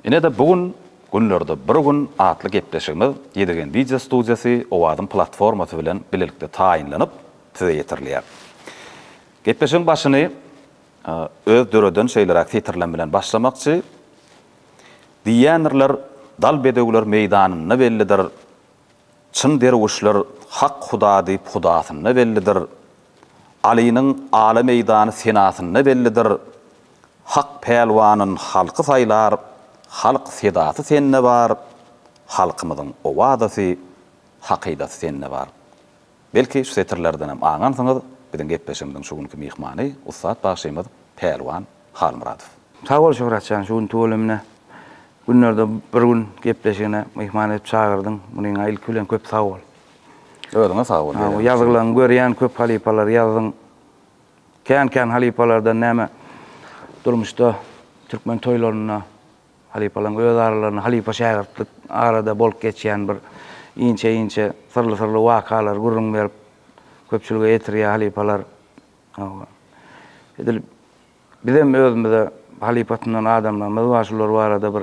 Ine-de bu gün Günlerde bir gün atly gepleşigimiz Ýedigen Video Studiýasy Owazyň platformasy bilen bilelikde taýynlanyp, size ýetirilýär. Gepleşigiň başyny öz döreden şeýleräk setirlem bilen başlamakçy, Diýýändirler, dal bedewler meýdanynda bellidir, Çyn derwüşler hak huda diýip hudasynda bellidir. Alynyň ala meýdany senasynda bellidir. Hak pälwanyn halky saýlar, halk sedasy sende bar, halkymyzyň owadasy, hakydasy sende bar. Belki, şu setirlerdenem aňansyňyz, biziň gepleşigimiziň şu günki myhmany, ussat bagşymyz Pälwan Halmyradow. Sag bol Şöhratjan şu gün tüweleme günlerde bir gün gepleşigine myhman edip çagyrdyň munyňa ilki bilen köp sag bol. Özüňe sag bol. Bu ýazgylaň görýän köp halypalar ýazdyň. Kän kän halypalardan näme durmuşda türkmen toýlarynda halypalaň öz aralarynda halypa şägirtlik arada bolup geçýän bir inçe inçe syrly syrly wakalar gürrüň berip köpçülige ýetirýä halypalar. Hawa. Edil bizem özümize halypa tunan adamlarymyz bar, şular barada bir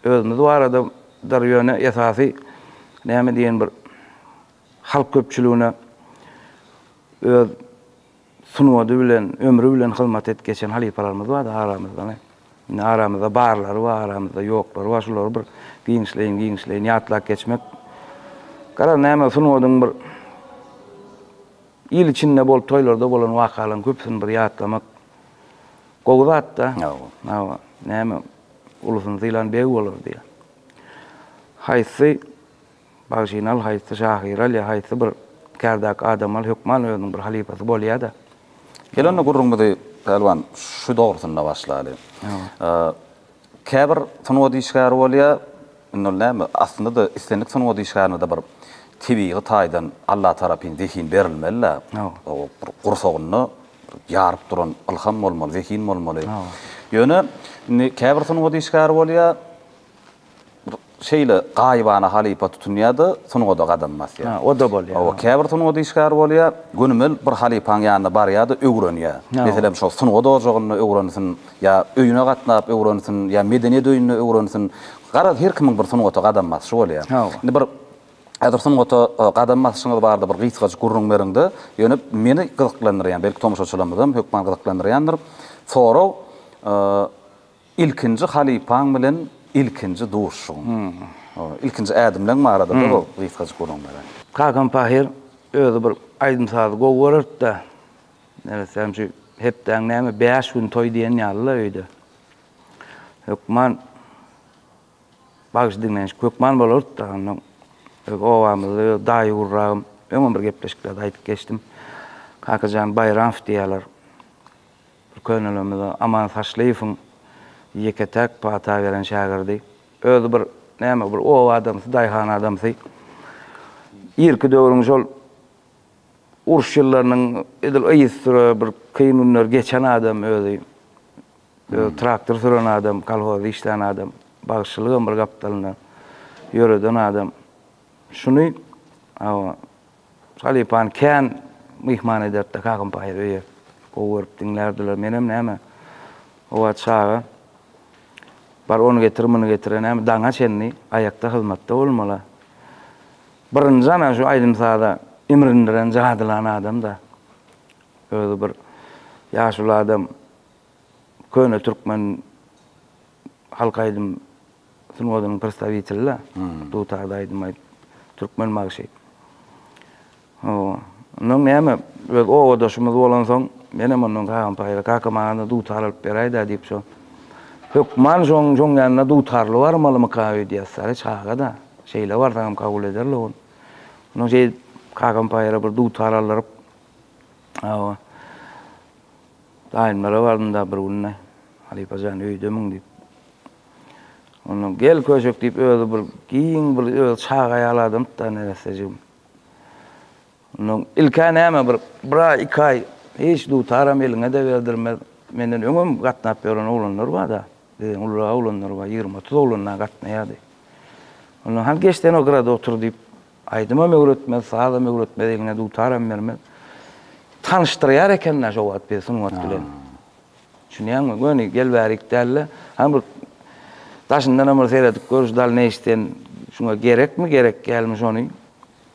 özümiz baradadyr, ýöne esasy näme diýen bir halk köpçüligine öz sungady bilen, ömri bilen hyzmat edip geçen halypalarymyz bar-da aramyzda. Indi aramyzda barlary bar, aramyzda ýoklary bar, şulary bir giňişleýin-giňişleýin ýatlap geçmek. Garaz, näme sungadyň bir. Il içinde bolup toýlarda bolan wakalaryň köpüsini bir ýatlamak gowy zat-da. Hawa. Hawa. Näme, ulusyny sylan beg bolar diýýär. Haýsy bagşyny al, haýsy şahyry al ýa haýsy bir kärdaky adamy al, hökman özüniň bir halypasy bolýar-da. Gel onda gürrüňimizi, Pälwan, şu dogrusynda başlaly. Hawa. Käbir sungat işgäri bolýar, indi ol näme, aslynda-da islendik sungat işgärine-de bir tebigy taýdan Allatarapyn zehin berilmeli-de, o bir gursagynda ýaryp duran ylham bolmaly, zehin bolmaly. Ýöne indi käbir sungat işgäri bolýar, bir Şeýle gaýybana halypa tutunýar-da, sungada gadam basýar. Hä, o-da bolýar. Hawa, käbir sungat işgäri bolýar, gönümel bir halypaň ýanyna barýar-da, öwrenýär. Meselem, şol sungat ojagynda öwrensin, ýa öýüne gatnap öwrensin, ýa medeniýet öýünde öwrensin. Garaz, her kimiň bir sungata gadam basyşy bolýar. Hawa. Indi bir häzir sungata gadam basyşyňyz barada bir gysgajyk gürrüň beriň-de, ýöne meni gyzyklandyrýan, belki, tomaşaçylarymyzam hökman gyzyklandyrýandyr, sorag, Ilkinji halypaň bilen ilkinji duşuşygyň. Ilkinji ädimleň barada bir gysgajyk gürrüň beräý. Kakam Pahyr özi bir aýdym-sazy gowy görerdi-de, neressäm şu hepdäň näme bäş gün toý diýen ýaly-la öýde. Hökman bagşy diňlenişik hökman bolardy-da, onnoň öz obamyzda öz daýy gurragym, öňem bir gepleşiklerde aýdyp geçdim. Kakajan Baýramow diýýärler. Bir könelerimiz bar, Aman Saçlyýewiň ýeke-täk pata gelen şägirdi. Özi bir näme, bir oba adamsy, daýhan adamsy. Irki döwrüň şol uruş ýyllarynyň edil yzysüre bir kyn günleri geçen adam özi. Özi traktor süren adam, kolhozda işlän adam. Bagşylygam bir gapdalynda ýöreden adam. Şuny, hawa. Halypany kän myhman ederdi-de Kakam-paýyr öýe. Gowy görüp diňlärdiler. Menem näme, howa çaga. Bar ony getir, muny getir-ä näme, daňa çenli aýakda hyzmatda bolmaly-a. Birinji ana şu aýdym-saza imrindiren, jadylan adam-da. Özi bir ýaşuly adam, köne türkmen. halk aýdym sungatynyň prostawiteli-dä. Dutarda aýdym aýdyp, türkmen magşy. Hawa. Ondan näme, öz obadaşymyz bolansoň, menem ondan kagam paýla, Kaka, maňa-da dutar alyp beräý-dä diýip, şo hökman şoň şoň ýanyna dutarly barmalymyka öýdýäs. Sary çaga-da, şeýle barsaňam kabul ederli ol. Ondan şeýdip, kakam paýla bir dutar aldyryp. Hawa. Daýymlara bardym-da bir günde. Halypa jan, öýdemiň diýip. Onda gel köşek diýip özi bir giň bir öz çaga ýaly adamdy-da neressejigim. Onda ilk-ä näme bir bir aý, iki aý hiç dutaram eliňe-de berdirmez. Menden öňem gatnap ýören oglanlar bar-da. Bizden ulurak oglanlar bar, ýigrimi-otuz oglan-a gatnaýardy. Onda hany geç sen o gyrada otur diýip, Aýdymam öwretmez, sazam öwretmez, egne dutaram bermez. Tanyşdyrýar eken-dä şo wagt bizi sungat bilen. Düşünýäňmi? Göni gel bärik däl-de, hany bir daşyndanam bir seredip görüş dalneýiş sen şuňa gerekmi, gerek dälmi şony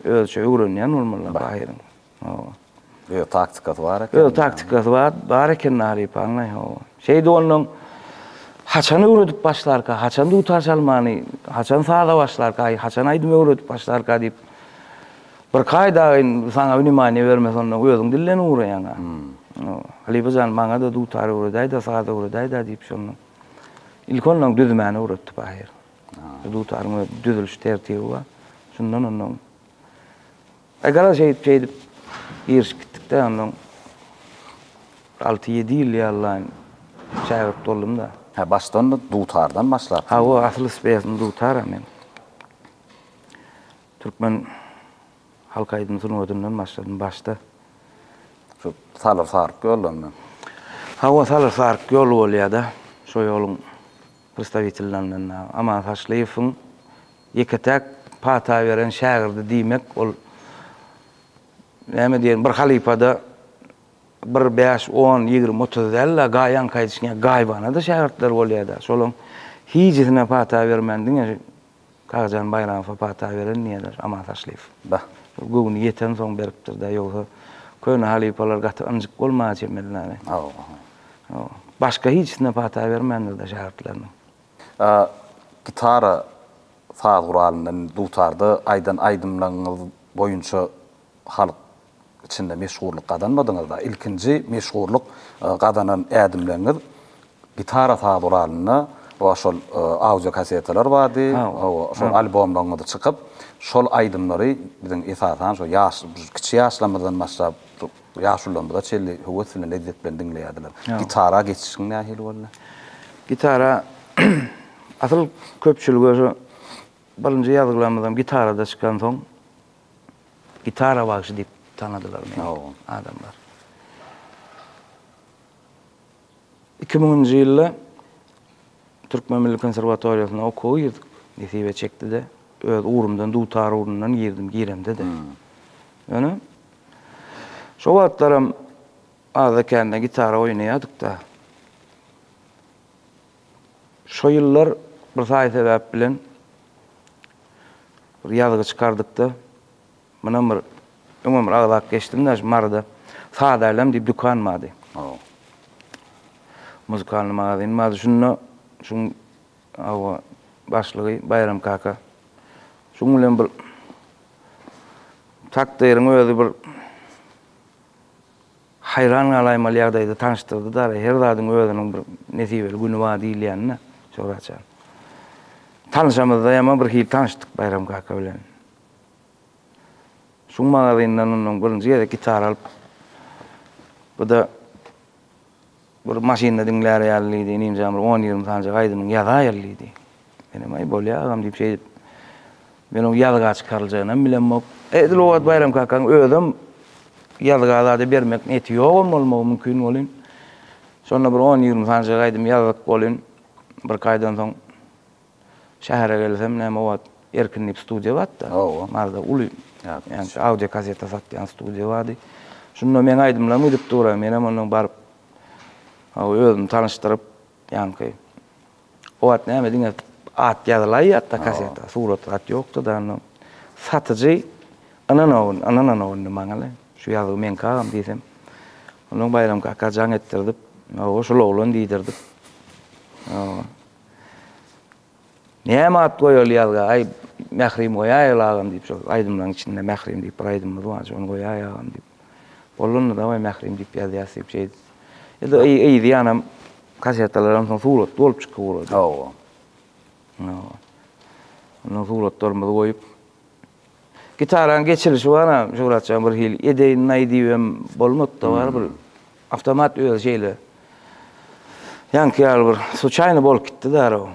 özüçe öwrenýän bolmalylar Bahyryň. Hawa. Öz taktikasy bar eken. Öz taktikasy bar, bar eken Nari Paňlaý, hawa. Şeýdip onnoň haçan öwredip başlarka, haçan dutar çalmany, haçan saza başlarka, aý, haçan aýdym öwredip başlarka diýip, bir kaýdaýyn saňa wnemaniýa bermese onnoň özüň dilden ugraýaň-a. Hawa. Halypa jan, maňa-da dutar öwredäý-dä, saz öwredäý-dä diýip şonnoň. Ilki onnoň düzmäni öwretdik ahyry. Dutaryň öz düzüliş tertibi bar. Şundan onnoň E, gara şeýdip, şeýdip girişip gitdik-de, onnoň alty-ýedi ýyl ýallaýyn şägirt boldum-da. Hä, başdan-da dutardan başlapsyň? Hawa, asyl spesm dutar-a men. Türkmen halk aýdym sungatyndan başladym başda. Şu salyr-saryk ýoldan-da? Hawa, salyr-saryk ýol bolýa-da. Şo ýoluň Prsdawitellerden dagy Aman Saçlyýewiň ýeke-täk pata beren şägirdi diýmek, ol näme diýerin, bir halypada bir bäş, on, ýigrimi, otuz däl-de, gaýanka aýdyşyn ýaly, gaýybana-da şägirtleri bolýar-da. Şolaryň hijisine pata bermän, diňe Kakajan Baýramowa pata beren diýerler, Aman Taşlyýew. Bah, bu göwni ýetensoň beripdir-dä, ýogsa köne halypalar gaty ynjyk bolmaga çemeli däl-ä. Hawa, hawa. Başga hiçsine pata bermändir-dä şägirtleriniň. A gitara, saz guralyndan, dutarda aýdan aýdymlaryňyz boýunça halk içinde meşhurlyk gazanmadyňyz-da, ilkinji meşhurlyk gazanan ädimleriňiz gitara saz uralynda we şol audio kasetalar bardy, şol albomlaryňyz çykyp, şol aýdymlary biziň esasan şo ýaş, kiçi ýaşlarymyzdan başlap, ýaşulylarymyza çenli höwes bilen, lezzet bilen diňleýärdiler. Gitara geçişiň nähili boldy? Gitara, asyl köpçülige şu birinji ýazgylarymyzam gitarada çykansoň, Gitara bagşy diýip tanadylar meni adamlar. Iki müňünji ýylda Türkmen milli konserwatoriýasyna okuwa girdik. Nesibe çekdi-de, öz ugrumdan, dutar ugrundan girdim, giremde-de. Ýöne şo wagtlaram azda-kände gitara oýnaýardyk-da. Şo ýyllar bir saýy sebäp bilen bir ýazgy çykardykda, mundan bir öňem bir agzap geçdim-de şu Maryda Sada Älem diýip dükan bardy. Muzykalnyý magazin bardy. Şunda şuň hawa başlygy Baýram kaka. Şuň bilen bir takdyryň özi bir Haýran galaýmaly ýagdaýda tanyşdyrdy Dara, her zadyň özüniň bir nesibeli güni bar diýilýänini Şöhrat jan. Tanyşamyzdaýam-a birhili tanyşdyk Baýram kaka bilen. Şu magazyndan onnoň birinji gezek gitara alyp, bu-da. Bir maşynda diňlär ýaly diýdi, inimjan bir on-ýigrimi sanjak aýdymyňy ýazaýaly diýdi. Menem, Aý, bolýar agam diýip şeýdip, men oň ýazga çykaryljagyny bilemok. Edil o wagt Baýram kakaň özem ýazga zada bermek niýeti ýogam bolmagy mümkin welin, şonda bir on-ýigrimi sanjak aýdym ýazdyk welin, birkaýdan soň. Şähere gelsem näme wagt Erkin diýip studiýa bardy-da. Hawa. Maryda uly ýa-da audio kaseta satýan studiýa bardy. Şunda meň aýdymlarymy gidip duraý. Menem ondan baryp hawa özümi tanyşdyryp ýaňky o wagt näme diňe at ýazylaýýardy-da kaseta, surat zat ýokdy-da onda. Satyjy ynanawyn, ynananok indi maňa-le. Şu ýazgy meňki agam diýsem. Ondan Baýram kaka jaň etdirdip, hawa şul oglan diýdirdip. Hawa. Näme at goýaly ýazga, aý, Mährim goýaýaly agam diýip, şol aýdymlaryň içinde Mährim diýip bir aýdymymyz bar, şony goýaý agam diýip. Bolanda-da goý Mährim diýip ýazýas diýip şeýdip. Ýa-da yzýanam kasetalaram soň suratly bolup çykyp ugrady. Hawa. Ondan suratlarymyzy goýup, Gitarany geçirişi bar-a, Şöwrat jan, bir hili edeýin-aý diýibem bolmady-da, barybir awtomat özi şeýle ýaňky ýaly bir suçaýny bolup gitdi darag.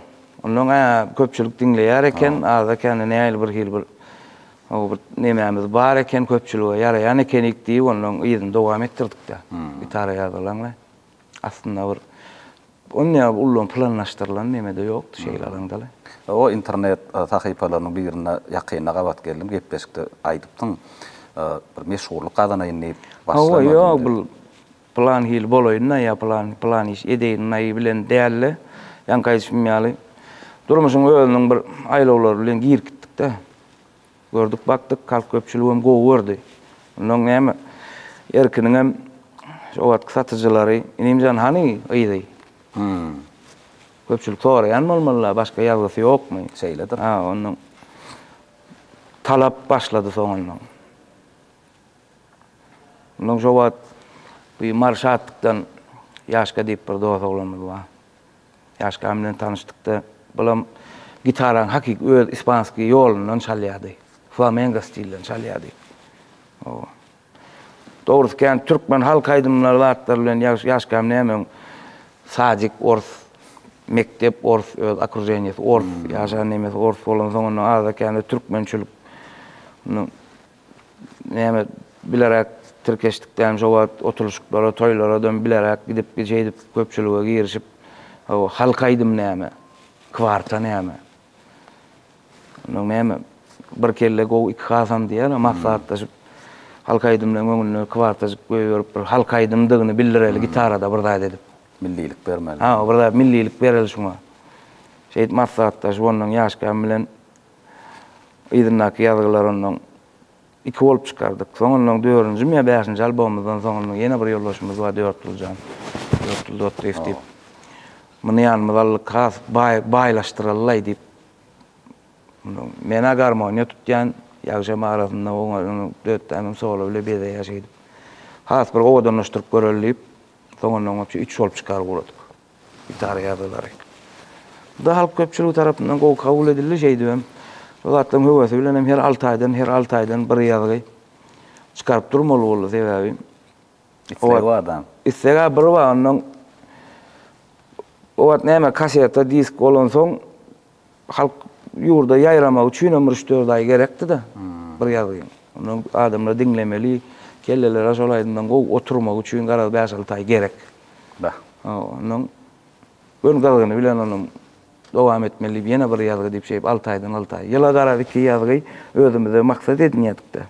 Onnoň a köpçülik diňleýär eken, aza-kände nähili bir hili bir o bir nemämiz bar eken, köpçülige ýaraýan ekenik diýip, onnoň yzyny dowam etdirdik-dä. Gitara ýazylaňlaý. Aslynda bir onyýa ullanan planlaşdyrylan neme-de ýokdy şeýle alaňda-le. O internet sahypalarynyň birinde ýakynda gabat geldim, gepleşikde aýdypdyň, bir meşhurlyk gazanaýyn diýip başlamadyň diýip. Hawa, ýok, bu pylan hili bolaýyn-da ýa pylan, pylan iş edeýin-aý bilen däl-de, ýaňky aýdyşym ýaly, durmuşyň özüniň bir aýlawlary bilen girip gitdik-de. Gördük bakdyk halk köpçüligem gowy gördi. Ondan näme Erkiniňem o wagtky satyjylary Inimjan hany gyzy? Köpçülik soraýan bolmaly-la başga ýazgysy ýokmy? Şeýledir. Ha ondan talap başlady soňundan. Ondan şo wagt bir Mary Şatlykdan Ýaşka diýip bir dos oglanymyz bar. Ýaşkam bilen tanyşdykda, bulam gitarany hakyky öz ispanskiý ýolundan çalýardy. Flamengo stilden çalýardy. Oba. Dogrusy kän türkmen halk aýdymlary zatlar bilen ýaş ýaşkam nämeň sadik ors, mekdep ors, öz okruženiýesi ors, ýaşan nemesi ors bolansoň onda azda-kände türkmençilik näme bilerek tirkeşdikdäm şo wagt oturyşyklara, toýlaradam bilerek gidip gije edip köpçülige girişip o halk aýdym näme, kwarta näme. Ondan näme bir kelle gowy iki hasam diýýärler maksatlaşyp halk aýdymlaryň öňünde kwartajyk goýberip bir halk aýdymdygyny bildireli gitarada bir zat edip. Millilik bermeli. Ha, bir zat millilik bereli şuňa. Şeýdip maksatlaşyp ondan ýaşkam bilen yzyndaky ýazgylar onnoň iki bolup çykardyk. Soň onnoň dördünjimi ýa bäşinji albomymyzdan soň onnoň ýene bir ýoldaşymyz bar Dörtgüljan, Dörtgül Dotdyýew diýip. Muny ýanymyza aldyk, has baý, baýlaşdyralylaý diýip. Onnoň men-ä garmoniýa tutýan, ýagşam arasynda oňa ony dötdämem solo bile bezeýär şeýdip. Has bir owadanlaşdyryp göreli diýip, soň onnoň üçi üç bolup çykaryp ugradyk. Gitara ýazgylary. Bu da halk köpçüligi tarapyndan gowy kabul edildi, şeýdibem bu zatlaryň höwesi bilen hem her alty aýdan, her alty aýdan bir ýazgy çykaryp durmaly boldy, sebäbi Isleg bar da. Isleg-ä bir bar, onnoň o wagt näme kaseta, disk bolansoň Halk ýurda ýaýramagy üçinem bir üç-dört aý gerekdi-de, bir ýazgyn. Ondan adamlar diňlemeli, kelleleri şol aýdymdan gowy oturmagy üçin garaz bäş-alty aý gerek. Bah. Ondan Gün gyzgyny bilen ony dowam etmeli diýip ýene bir ýazgy diýip şeýdip alty aýdan alty aý. Ýyla garaz iki ýazgy özümize maksat edinýädik-de.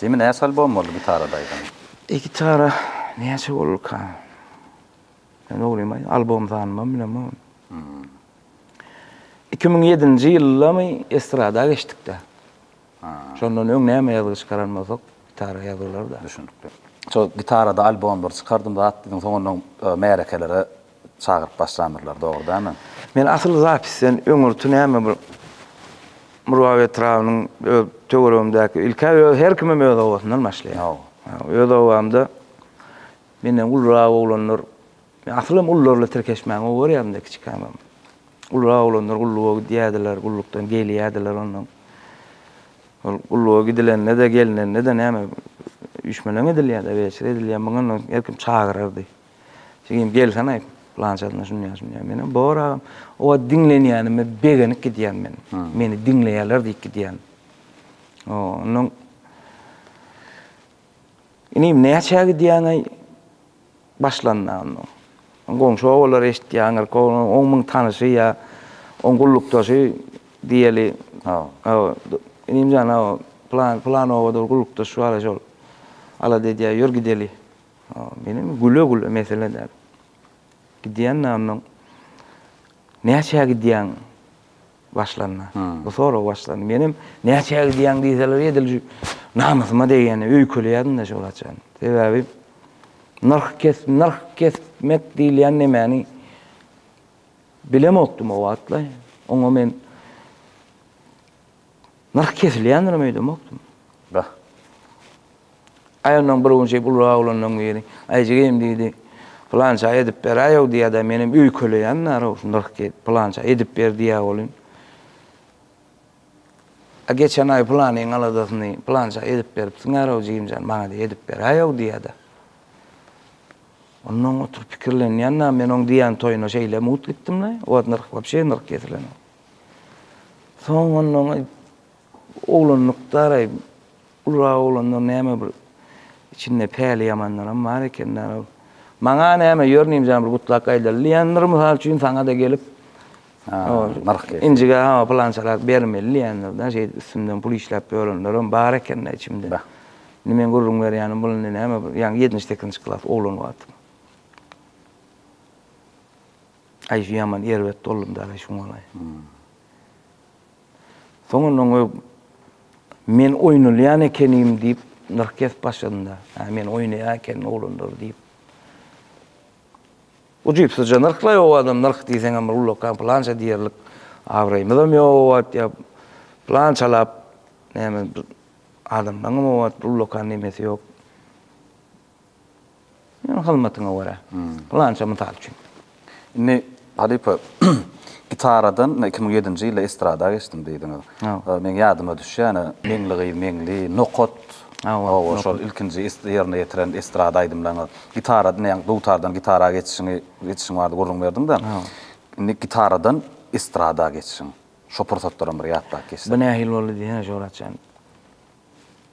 Jemi näçe albom boldy gitarada aýdan? Gitara näçe bolduka? Men oglumy albom sanymam bilemok. Iki müň ýedinji ýyldamy estrada geçdik-de. Şondan öň näme ýazgy çykaran bolsak, gitara ýazylar-da. Düşünikli. Şol gitarada albomlar çykardym zat diýdiň, soňundan märekelere çagyryp başlandyrlar, dogry dälmi? Men asyl zapisden öňürti näme bir Murgap etrabynyň öz töweregimdäki, ilk-ä öz her kimem öz obasyndan başlaýar. Öz obamda menden ulurak oglanlar Men asylym ullarla tirkeşmäni gowy görýärin-de kiçikämem. Ululak oglanlar gulluga gidýärdiler, gullukdan gelýärdiler onnoň. Ol gulluga gidilende-de, gelinende-de näme üýşmeleň edilýär-de, weçe edilýär. Muňa onnoň her kim çagyrardy. Jigim, gelsene aýt, pylançasyna şunýa-şunýa. Menem, bor agam. O wagt diňlenýänime begenip gidýän men. Meni diňleýärler diýip gidýän. Onnoň, Inim, näçä gidýäň-aý? başlanda onuň. Goňşy obalar eşitýändir, on müň tanyşy ýa on gullukdaşy diýeli. Hawa. Inim jan, hawa, plan, plan obada bir gullukdaş bar-a şol. Alada edýär, ýör gideli. Hawa, menem güle-güle, mesele däl. Gidýän-de onnoň. Näçä gidýäň? Başlanda. Bu sorag başlanda. Menem näçä gidýäň diýseler edil şu namysyma degýänini öýkeleýärdim-de şol haçan. Sebäbi nyrh kes nyrh kesmek diýilýän nemäni bilemokdym o wagtlar. Oňa men nyrh kesilýändirem öýdemokdym. Bah. Aýagyndan bir gün şeýdip ulurak oglanlaň biri, Aýjigim diýdi, pylança edip beräýow diýýä-dä, menem öýkeleýän-dä-row, nyrh diýip, pylança edip ber diýýä welin, A geçen aý pylanyň aladasyny pylança edip beripsiň-ä-row, jigim jan, maňa-da edip beräýow diýýä-dä. Onnoň oturyp pikirlenýän-dä, men oň diýýän toýuna şeýle mut gitdim-le, o wagt nyrh wapşe nyrh kesilenok. Soň onnoň oglanlykda-raý, Ulra oglanlar näme bir içinde päli ýamanlaram bar eken däl ol. Maňa näme ýör nimjan bir gutlak aýdaly diýendir mysal üçin saňada gelip nyrh gelip. Injige hawa pylançarak bermeli diýendir dä şeýdip üstümden pul işläp ýörenlerem bar eken dä içimde. Indi meň gürrüň berýänim bul indi näme bir ýaňy ýetmiş sekizinji klas oglan wagtym. Aý şu ýaman erbet boldum däl-aý şuňalaý. Soňundan görüp, men oýnalýan ekenim diýip, nyrh kesip başladym-da. Hä, men oýnaýan ekenim oglanlar diýip. Ujypsyzja nyrhlaýar o adam, nyrh diýseňem bir ullakan pylança diýerlik abraýymyzam ýok o wagt ýa pylançalap näme adamlaryňam o wagt ullakan nemesi ýok. Ýöne hyzmatyňa görä. Pylança mysal üçin. Indi halypa gitaradan iki müň ýedinji ýylda estrada geçdim diýdiňiz. Meň ýadyma düşýän Meňli gyz Meňli, Nokat, hawa şol ilkinji ýerine ýetiren estrada aýdymlaryňyz. Gitaradan ýaňy dutardan gitara geçişiňi geçişiň bardy gürrüň berdiňde. Indi gitaradan estrada geçişiň. Şo pursatlaram bir ýatlap geçsek. Bu nähili boldy diýsene Jorat jan.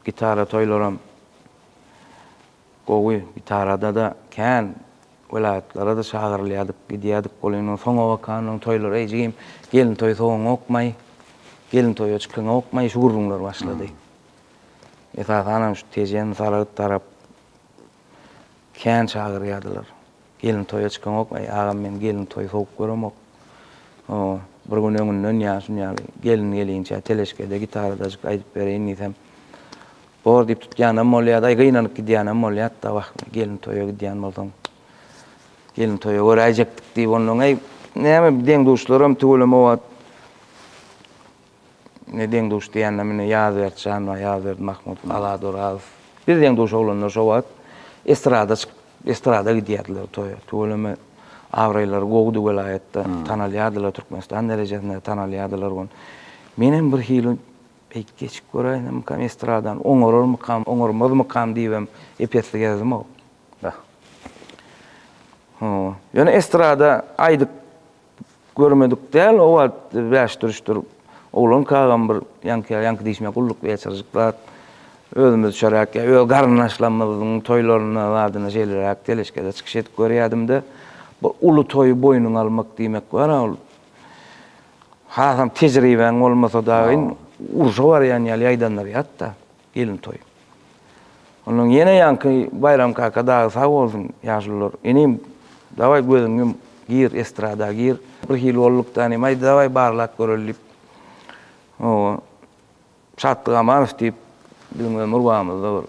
Gitara toýlaram gowy, gitarada-da kän welaýatlara-da çagyrylýardyk, gidýärdik. Ol indi soňa bakan, onuň toýlary eý jigim, gelin toýy sowaňokmaý, gelin toýa çykaňokmaý, şu gürrüňler başlady. Esasanam şu Tejen, Salgyt tarap Kän çagyrýardylar. Gelin toýa çykaňok, Aý, agam, men gelin toýy sowuk göremok. O, bir gün öňünden ýa şun ýaly, Gelin gelinçä teleşkede gitaradajyk aýdyp bereýin diýsem, Bor diýip tutýanam bolýardy, aý, gynanyp gidýänem bolýardy-da, wah, gelin toýa gidýän bolsaň, gelin toýa göräýjekdik diýip onnoň, aý, näme, deň-duşlaram tüweleme wagt. ne deň duş diýende mine Ýazberdi Şanbag, Ýazberdi Mahmut, Alat Orazow. Biz deň duş oglanlar şo wagt estrada çykyp, estrada gidýärdiler toýa. Tüweleme abraýlary gowudy welaýatda, tanalýardylar, Türkmenistan derejesinde tanalýardylar gon. Menem bir hili beýdip geçip göräýsemikam estradany, oňararmykam, oňarmazmykam diýibem ep-esli gezdim-ow. Ýöne estrada aýdyp Görmedik däl o wagt bäşdürüşdir. Oglan kagam bir ýaňky, ýaňky diýşime gulluk geçirjik zat. Özümiz çöräk ýa öz garyndaşlarymyzyň toýlarynda zadyna şeýleräk teleşkede çykyş edip görýädim-de. Bu uly toýy boýnuňa almak diýmek bar-a ol. Hasam tejribäň bolmasa dagyn urşa barýan ýaly ýaýdandyr ýat-da. Gelin toý. Ondan ýene ýaňky Baýram kaka dagy sag bolsun, ýaşulular, inim, dawaý gözüňi ýum, gir, estrada gir. Bir hili bolduk-da inim, aý dawaý barlap göreli diýip, hawa, Şatlyk Amanow diýip, biziň ömür bagymyzda bir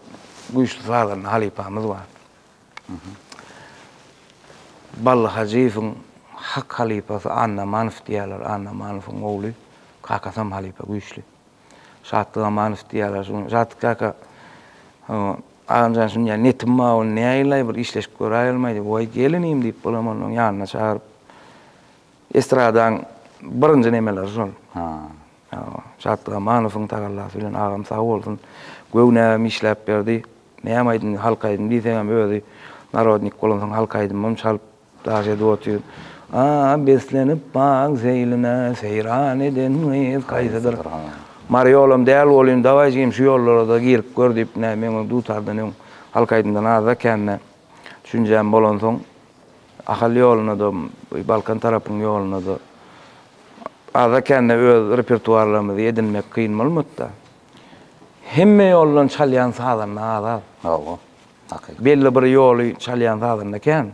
güýçli sazanda halypamyz bar. Bally Hajyýewiň hak halypasy Annamanow diýýärler, Annamanowyň ogly, kakasam halypa güýçli. Şatlyk Amanow diýýärler şu gün. Şatlyk kaka, agamjan şu dünýä netim bar, ony näýlaý bir işleşip göräýelmäý diýip, Waý, gel inim diýip, bulam onuň ýanyna çagyryp, estradaň birinji nemeleri şol. Hawa, Şatlyk Amanowyň tagallasy bilen agam sag bolsun, göw näbem işläp berdi. Näme aýdym, halk aýdymy diýseňem özi narodnik bolansoň halk aýdymym çalyp Daş edip otyr. A, beslenip bagyň seýline, Seýran eden gyz haýsydyr? Mary ýolam däl welin, dawaý jigim şu ýollara-da girip gör diýip, nä, meň öň dutardan öň halk aýdymdan azda kände düşünjäm bolansoň, Ahal ýoluna-da, Balkan tarapyň ýoluna-da azda kände öz repertuarlarymyzy edinmek kyn bolmady-da. Hemme ýoldan çalýan sazanda az-az. Hawa. Takyk. Belli bir ýoly çalýan sazanda kän,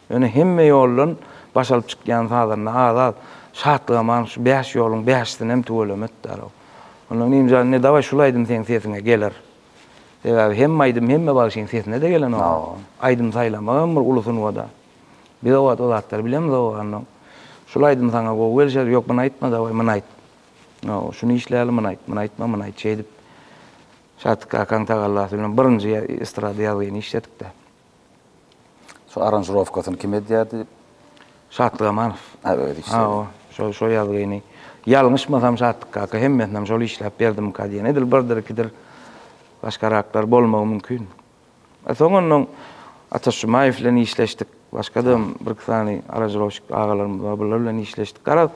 ýöne hemme ýoldan baş alyp çykýan sazanda az-az. Şatlygaman şu bäş ýoluň bäşisinem tüweleme etdärow. Onda Nimjan indi dawaý şul aýdym seň sesiňe geler. Sebäbi hemme aýdym hemme bagşyň sesine-de gelenok. Aýdym saýlamak hem bir uly sungat-a. Biz o wagt o zatlary bilemizok onda. Şul aýdym saňa gowy gelişer, ýok muny aýtma dawaý muny aýt. Hawa, şuny işläli muny aýt, muny aýtma muny aýt şeýdip. Şadyk kakaň tagallasy bilen birinji estrada ýazgyny işledik-de. Şo aranžirowkasyny kim edýärdi? Şatlyk Amanow. Hä, özi işledi. Hawa, şo, şo ýazgyny. Ýalňyşmasam Şadyk kaka hemmesinem şol işläp berdimikä diýen. Edil birdir-ikidir başgaraklar bolmagy mümkin. Soň ondan Ataş Jumaýew bilen işleşdik. Başga-da hem bir-iki sany aranžirowşik agalarymyz bar, bular bilen işleşdik. Garaz,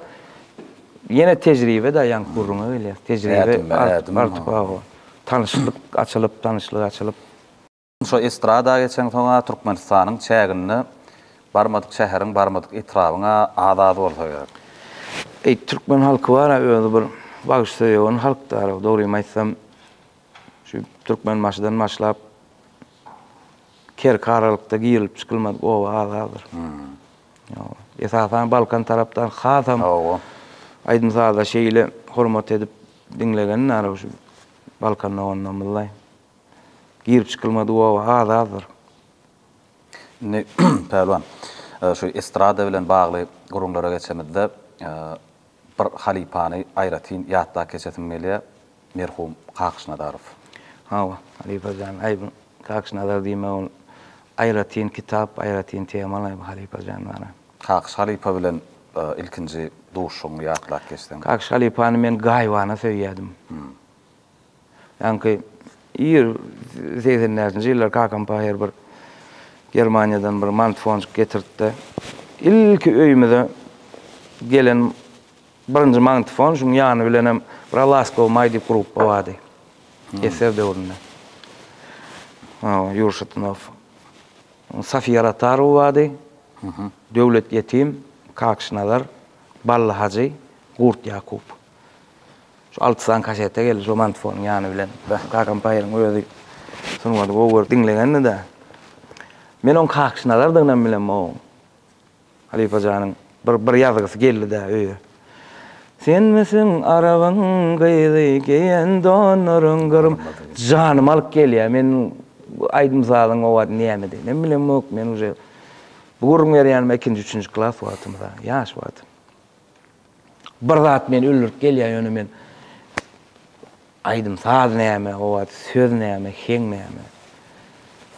ýene tejribe-de ýaňky gürrüňe gelýär. Tejribe artyp, hawa. Tanyşlyk açylyp, tanyşlyk açylyp. Şo estrada geçeňsoň-a Türkmenistanyň çäginde barmadyk şäheriň, barmadyk etrabyň-a az-az bolsa gerek. Eý, türkmen halky bar-a özi bir bagşysöýewan halkdar-a, dogrymy aýtsam. Şu Türkmenbaşydan başlap Kerki aralykda girilip çykylmadyk oba az-azdyr. Ýok. Esasan Balkan tarapdan hasam aýdym-saza şeýle hormat edip diňlegen ara şu Balkan doganlarymyzlaý. Girip çykylmadyk oba az-azdyr. Indi Pälwan, şu estrada bilen bagly gürrüňlere geçemizde, Bir halypany aýratyn ýatda keçesim gelýär, merhum Kakyş Nazarow. Hawa, halypa jan, aý bu Kakyş Nazar diýme ol aýratyn kitap, aýratyn temalaý bu halypa jan bana. Kakyş halypa bilen ilkinji duşuşygyňy ýatlap geçseň. Kakyş halypany men gaýybana söýýädim. Ýaňky ir segsen bäşinji ýyllar kakam paýhar bir Germaniýadan bir mantfonjik getirtdi. Ilki öýümize gelen birinji mantfon, şuň ýany bilenem Bra laskow maý diýip gruppa bardy. Eser döwründe. Ýuri Şatinow. Safiýa Ratarowa bardy. Döwlet Ýetim, Kakşy Nazar, Bally Hajy, Gurt Ýakup. Şu alty sany kasete geldi şu mantfonyň ýany bilen. Kakam paýyň özi sungaty gowy görüp diňlegendi-de. Men oň kakşy nazardygynam bilemok oň. Halypa janyň bir bir ýazgysy geldi-de öýe. Senmisiň arabyň gyzy, geýen donlaryň gyrym. Janymy alyp gelýär. Men aýdym sazyň o wagt nämediginem bilemok. Men uje bu gürrüň berýänime ikinji, üçünji klas wagtymda, ýaş wagtym. Bir zat meni öldürip gelýär, ýöne men aýdym saz näme, o wagt söz näme, heň näme.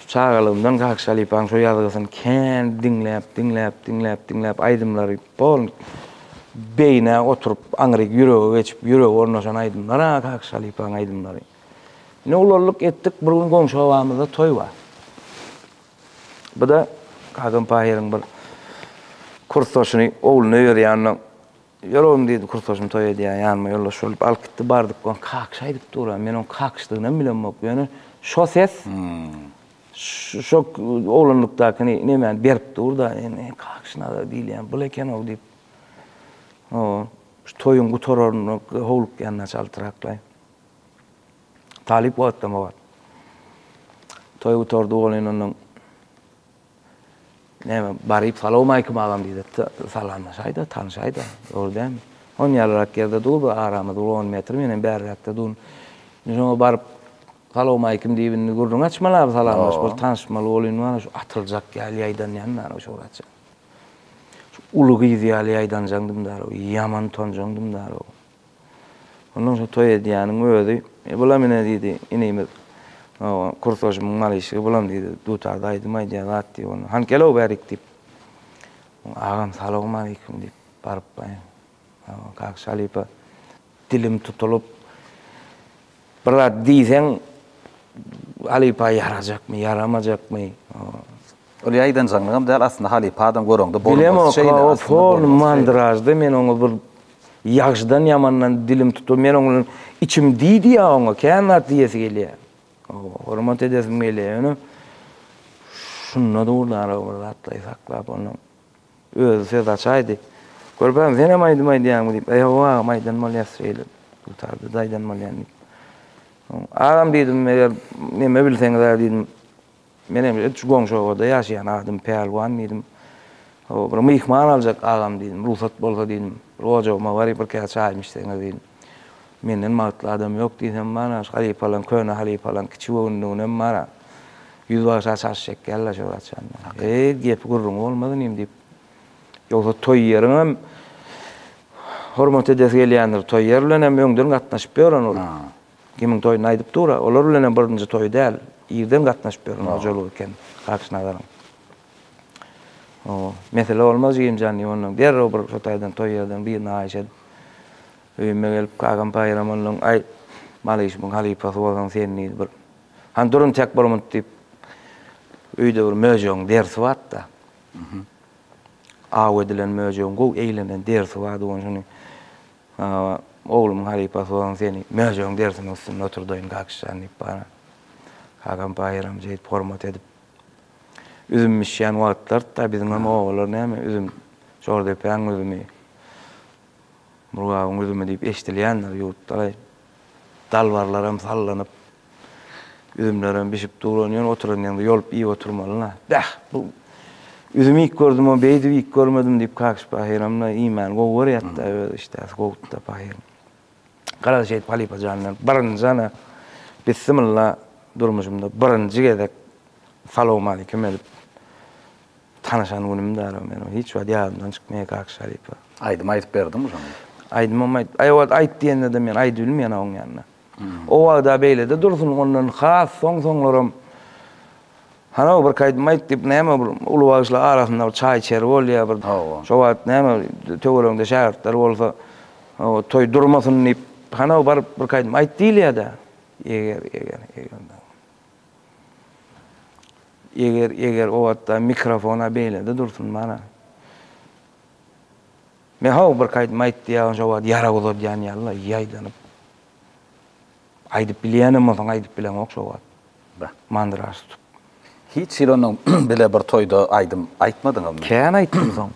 Çagalygymdan Kakşy halypanyň şu ýazgysyny kän diňläp, diňläp, diňläp, diňläp aýdymlary bol beýnä oturyp, aňryk ýürege geçip, ýürege ornaşan aýdymlar-a Kakşy halypanyň aýdymlary. Ine ulaldyk, etdik, bir gün goňşy obamyzda toý bar. Bu-da Hakan Pahyryň bir kursdaşyny ogluna öýerýände, Ýör oglum diýdi, kursdaşym toý edýär, ýanyma ýoldaş bolup alyp gitdi. Bardyk, oň kakyş aýdyp dur. Men oň kakyşdygynam bilemok. Ýöne şo ses şo oglanlykdaky nemäni berip dur-da, indi kakyş nazar diýilýän bul eken-ow diýip, şu toýuň gutararyna howlukýan naçe altyraklaý. Talyp wagtdan wagt. Toý gutardy bolyn ondan. Näme, baryp salawmaýkim agam diýdi. Salamlaşaýda, tanyşaýda. Dogry dämi? On ýalrak ýerde dur, bir aramyz bir on metr, men hem bärräkde dur. Indi şoňa baryp salawmaýkim diýip indi gürrüň açmaly abi, salamlaşmaly, tanyşmaly bolyn wany şu atyljak ýaly ýaýdanýan dana şu wagtça. Şu uly gyz ýaly ýaýdanjaňdym dana, ýaman utanjaňdym dana. Ondan soň toý edýäniň özi, E, bulam ine, diýdi, inimiz, kursaşymyň malyşygy, bulam, diýdi, dutarda aýdym aýdýan zat, diýip, onda, hany, gel-ow bärik, diýip. Oň agam, salowmaleýkim, diýip, barypbaýyn. Kaka halypa, dilim tutulyp, bir zat diýseň, halypa ýarajakmy, ýaramajakmy? Ol ýaýdanjaňlygam däl aslynda halypa adam göreňde borun bolsun şeýle aslynda borun bolsun. Bilemok hol mandražda men oňa bir ýagşydan ýamandan dilim tutup men oň bilen içim diý diýýä oňa kän zat diýesi gelýä. Hawa hormat edesim gelýä ýöne şunda dur dara bir zatlaýy saklap onuň özi söz açaýdy. Körpäm senem aýdym aýdýaňmy diýip e hawa agam aýdan bolýas şeýle dutarda-da aýdan bolýan diýip. Agam diýdim eger neme bilseňizä diýdim Menem şu goňşy obada ýaşaýan adym Pälwan diýdim. Hawa, bir myhman aljak agam diýdim. Rugsat bolsa diýdim, bir ojagyma baryp bir käse çaýymy içseňiz diýdim. Menden bagtly adam ýok diýsem bar-a, şu halypalaň, köne halypalaň kiçi göwünliginem bar-a. Ýüzbagşa çaş çekýärler şo wagtjan. Eý, gepi-gürrüňi bolmaz inim diýip. Ýogsa toý ýeriňem hormat edesi gelýändir. Toý ýer bilenem öňden gatnaşyp ýören ol. Kimiň toýunda aýdyp dur-a, olar bilenem birinji toýy däl, irden gatnaşyp ýören hojalyk eken Hakyşnazaryň. Mesele bolmaz, jigim jan, diýip, onnoň derrew bir şo taýdan toý ýerden birini haýyş edip, öýüme gelip, Kagam Paýyram onnoň, Aý, Malyşymyň halypasy bolsaň sen, diýdi, bir, Hany durun, tek bolmut, diýip, öýde bir möjegiň derisi bardy-da. Aw edilen möjegiň gowy eýlenen derisi bardy, ony şuny, Hawa, oglumyň halypasy bolan seni möjegiň derisiniň üstünde oturdaýyn, kakişjan, diýip bana Hakan paýeram jeýdip hormat edip. Üzüm bişýän wagtlardy-da, biziňem obalar näme, üzüm, Jordepäň üzümi, Murgabyň üzümi diýip eşdilýändir, ýurtlaryň dalbarlaram sallanyp, Üzümlerem bişip duran ýöne oturan ýeriňde ýolup iýip oturmalyna. Bäh, bu üzüm ilk gördüm-ow, beýdip iýip görmedim diýip Kakyş pahyram-da iýmäni gowy görýärdi-da, öz işdäsi gowudy-da pahyryň. Gara şeýdip halypa janyna birinji ana bissimylla durmuşymda birinji gezek salowmalikim edip tanyşan günümdi-ä meniň o, hiç wagt ýadymdan çykmaýar Kakyş halypa. Aýdym aýdyp berdiňmi şonda? Aýdymam aýt, aý o wagt aýt diýende-de men aýdybilmeýän-ow oň ýanynda. O wagda beýlede dursun, ondan has soň-soňlaram Hany-ow, bir kaýdym aýt diýip, näme bir uly bagşylar arasynda bir çaý-içer bolýar, bir şo wagt näme töweregiňde şägirtler bolsa, toý durmasyn diýip, hany-ow, baryp bir kaýdym aýt diýilýär-dä. Eger, eger, eger dagy. Eger, eger o wagtda mikrofon-a beýlede dursun, mana. Men how bir kaýdym aýt diýýägin şo wagt ýarag uzadýan ýaly ýaýdanyp aýdyp bilýänem bolsaň aýdyp bileňok şo wagt Beh. mandyraş tutup. Hiç hili onuň bile bir toýda aýdym aýtmadyňyzmy? Kän aýtdym soň.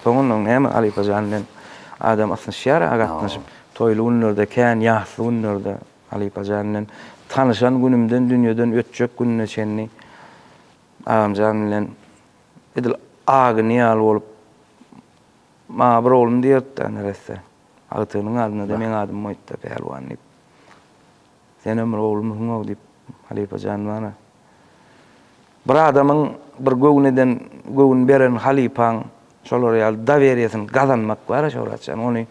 Soň ondan näme halypa jan men adam ysnyşýar a gatnaşyp toýly günlerde kän ýasly günlerde halypa jan bilen tanyşan günümden dünýeden ötjek gününe çenli agamjan bilen edil a güni ýaly bolup Maňa bir oglum diýerdi-de neresse. Agtygynyň adyna-da meň adym goýupdy, Pälwan diýip. Senem bir oglumysyň-ow diýip, halypa jan bana. Bir adamyň bir göwün eden, göwün beren halypaň şolar ýaly doweriýesini gazanmak bar-a, Şöwratjan. Ony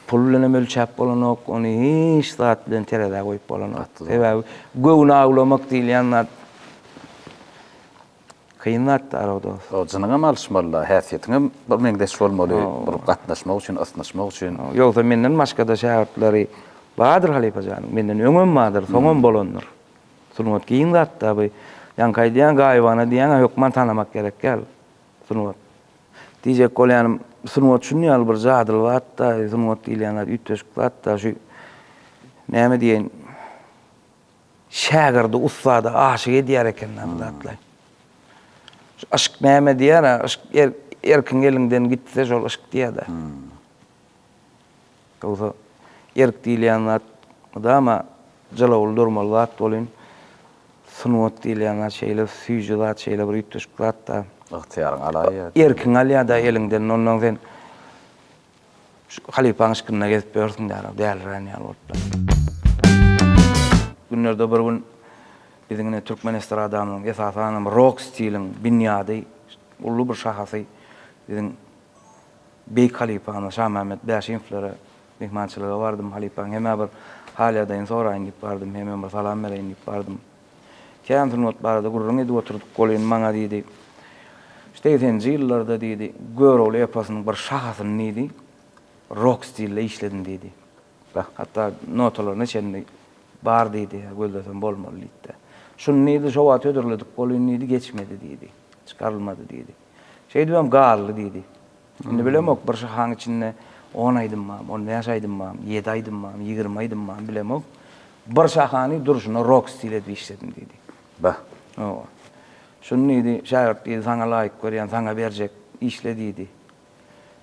pul bilenem ölçäp bolanok, ony hiç zat bilen terezä goýup bolanok. Sebäbi göwün awlamak diýilýän zat. Kyn zatdy araw dos. Jynyňam alyşmalyda häsiýetiňem bir meňzeş bolmaly bir gatnaşmak üçin ysnyşmak üçin. Ýogsa menden başgada şägirtleri bardyr halypa janyň menden öňem bardyr soňam bolandyr. Sungat giň zatda bu ýaňky aýdýan gaýybana diýýäňä hökman tanamak gerek ýaly sungat. Diýjek bolýanym sungat şuny ýaly bir jadyly zatda sungat diýilýän zat üýtgeşik zatda şu näme diýeýin Şägirdi ussada aşyk edýär eken-dä bu zatlaý. Şu yşk näme diýýär-ä, yşk erkiň eliňden gitse şol yşk diýýär-dä. Ýogsa erk diýilýän zat mydama jylawly durmaly zat welin, sungat diýilýän zat şeýle süýji zat, şeýle bir üýtgeşik zat-da. Ygtyýaryňy alaýýar. Erkiňi alýar-da eliňden, ondan sen Halypaň yşkynda gezip ýörsüň dälä, dälirän ýaly bolupdyr. Günlerde bir gün biziň ine türkmen estradamyzyň, esasanam rok stiliň binýady, uly bir şahasy biziň beýik halypamyz Şamämmet Bäşimowlara myhmançylyga bardym. Halypaň hemä bir hal-ýagdaýyny soraýyn diýip bardym, hemem bir salam bereýin diýip bardym. Kän sungat barada gürrüň edip oturdyk. Golin maňa diýdi, Segseninji ýyllarda diýdi, Görogly eposynyň bir şahasyny diýdi, rok stilde işledim diýdi. Hatda notalaryna çenli bar diýdi, gözlesem bolmaly diýdi-de. Şuny diýdi, şo wagt hödürledik, Golin diýdi, geçmedi diýdi, çykarylmady diýdi. Şeýdibem galdy diýdi. Indi bilemok, bir şahaň içinde on aýdym barmy, on bäş aýdym barmy, ýedi aýdym barmy, ýigrimi aýdym barmy, bilemok. Bir şahany durşuna rok stil edip işledim diýdi. Bah. Hawa. Şuny diýdi, şägirt diýdi, saňa laýyk görýän, saňa berjek, işle diýdi.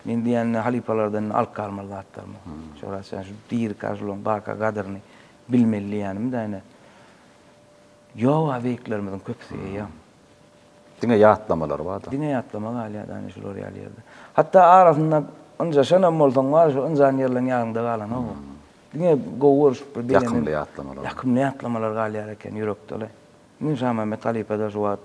Men diýende halypalardan indi alyp galmaly zatlarym ýok. Şöhrat Şahin şu diri Kažulyň baka gadyryny bilmeli diýýänim-dä ine. Ýok-a beýiklerimiziň köpüsi eýýäm. Diňe ýatlamalar bar-da. Diňe ýatlama galýar da indi şular ýaly ýerde. Hatda arasynda ynjaşanam bolsaň bar, şo ynjan ýerleň ýadyňda galanok. Diňe gowy görşüp bir begenip. Ýakymly ýatlamalar. Ýakymly ýatlamalar galýar eken ýürekde-le. Indi Şamämmet halypa-da şu wagt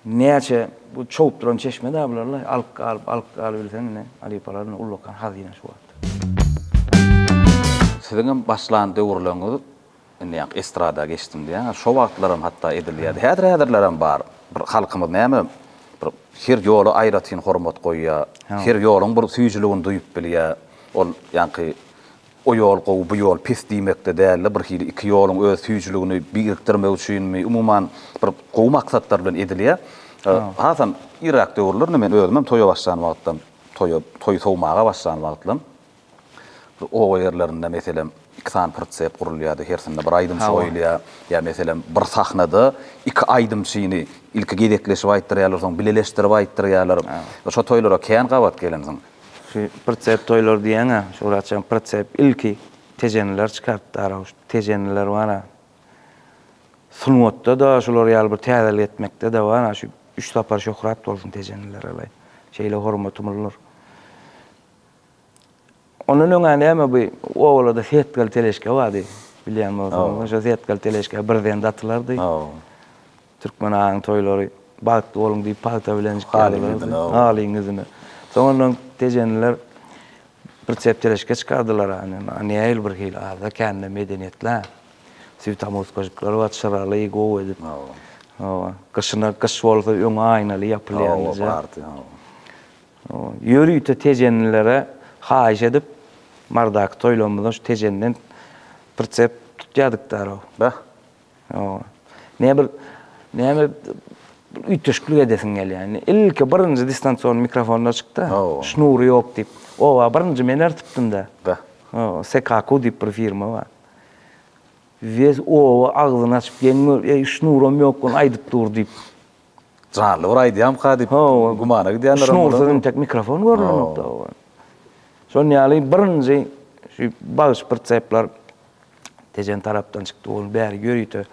näçe bu çowup duran çeşme-dä bular-la. Alyp galyp, alyp galybilseň ine, halypalaryň ullakan hazyna şu wagt. Siziňem başlan döwürleriňiz Indi ýaňky estrada geçdim diýýäňiz. Şo wagtlaram hatda edilýärdi. Häzir-häzirlerem bar. Bir halkymyz näme, bir her ýola aýratyn hormat goýýar. Her ýoluň bir süýjüligini duýup bilýär. Ol ýaňky o ýol gowy, bu ýol pis diýmekde däl-de, bir hili iki ýoluň öz süýjüligini birikdirmek üçinmi, umuman, bir gowy maksatlar bilen edilýär. Hasam irräk döwürlerde men özümem toýa başlan wagtlam, toýa, toýy sowmaga başlan wagtlam, Oba ýerlerinde, meselem, iki sany pritsep gurulýardy, hersinde bir aýdymçy goýulýar. Ýa, meselem, bir sahnada iki aýdymçyny ilki gezekleşip aýtdyrýarlar, soň bileleşdirip aýtdyrýarlar. Şo toýlara kän gabat gelensiň. Şu pritsep toýlary diýýäň-ä, şu wagtça pritsep ilki tejeniler çykarypdy, arauşt tejeniler bar-a. Sungatda-da şular ýaly bir täzelik etmekde-de bar-a, şu üç sapar şöhrat bolsun tejenilere-le. Şeýle hormatymyz bar. Ondan öňä näme bu obalada setgal teleşke bardy. Bilýän bolsaňyz, şo setgal teleşke birden datylardy. Türkmen aýyň toýlary bagtly boluň diýip pagta bilen çykýarlardy. Halyň ýüzüne. Soň ondan tejeniler bir çep teleşke çykardylar ane. Nähili bir hili aza kände medeniýetli-ä. Süýt amuskajyklary bar, çyraly, gowy edip. Hawa. Gyşyna gyş bolsa öňi aýnaly ýapylýan. Hawa, bardy. Ýörite tejenilere haýyş edip, Mardaky toýlarymyzdan şu tejenden pritsep tutýardyk daraw. Bah. Näme bir, näme bir üýtgeşiklik edesiň gelýär. Ilki birinji distansion mikrofonlar çykdy. Şnury ýok diýip. Oba birinji men ertipdim-de. Bah. Sekaku diýip bir firma bar. Wes oba agzyny açyp geň gör, eý şnuram ýok gun aýdyp dur diýip. Janly bir aýdýamyka diýip gümana gidýänlerem bolar. Şunuň üstüne entek mikrofon görlenokda oňa. Şonuň ýaly birinji şu bagşy-pritsepler Tejen tarapdan çykdy. Ol bäri ýörite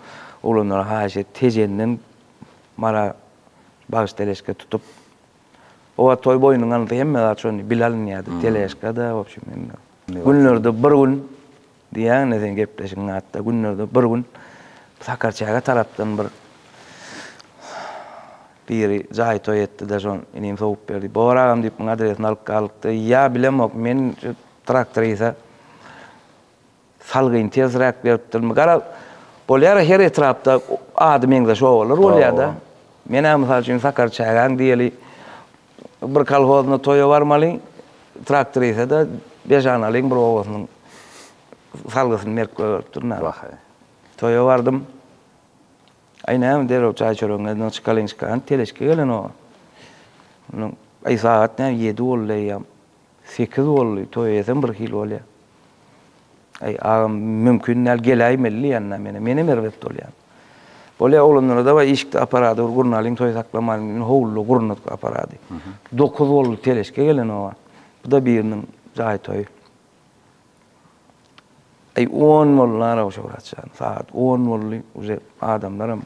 oglanlara haýyş et, Tejenden mara bagşy teleşka tutup. O wagt toý boýnuň alnysy hemme zat şondy, bile alynýardy, teleşka-da, w obşem hemme. Günlerde bir gün Diýýäň-le seň gepleşigiň atda günlerde bir gün Sakarçäge tarapdan bir biri jaý toý etdi-de şo inim sowup berdi. Bobar agam diýip muň adresini alyp galykdy. Ýa bilemok men şu traktorisa salgyn tersiräk beripdirmi. Gara bolýar-a her etrapda ady meňzeş obalar bolýar-da. Men-ä mysal üçin Sakarçägäň diýeli Bir kolhozyna toýa barmalyň, traktorisede beş analyň bir obasynyň salgysyny merkbe beripdir. Wahaý. Toýa bardym. Aý näme derrew çaý-çöregiňizden çykalyň-çykalyň, teleşki gelen oňa. Aý sagat näme ýedi boldy eýýäm. Sekiz boldy toý eýesem bir hil bolýa. Aý agam mümkin däl geläýmeli diýýända menä menem erbet bolýan. Bolýa oglanlara dawaý işikde aparady bir gurnalyň toý saklamalyň diýdim howluda gurnadyk aparady. Dokuz boldy teleşke gelen oba. Bu-da biriniň jaý toýy. Eý on boldy araw Şöwrat jan sagat on boldy uje adamlaram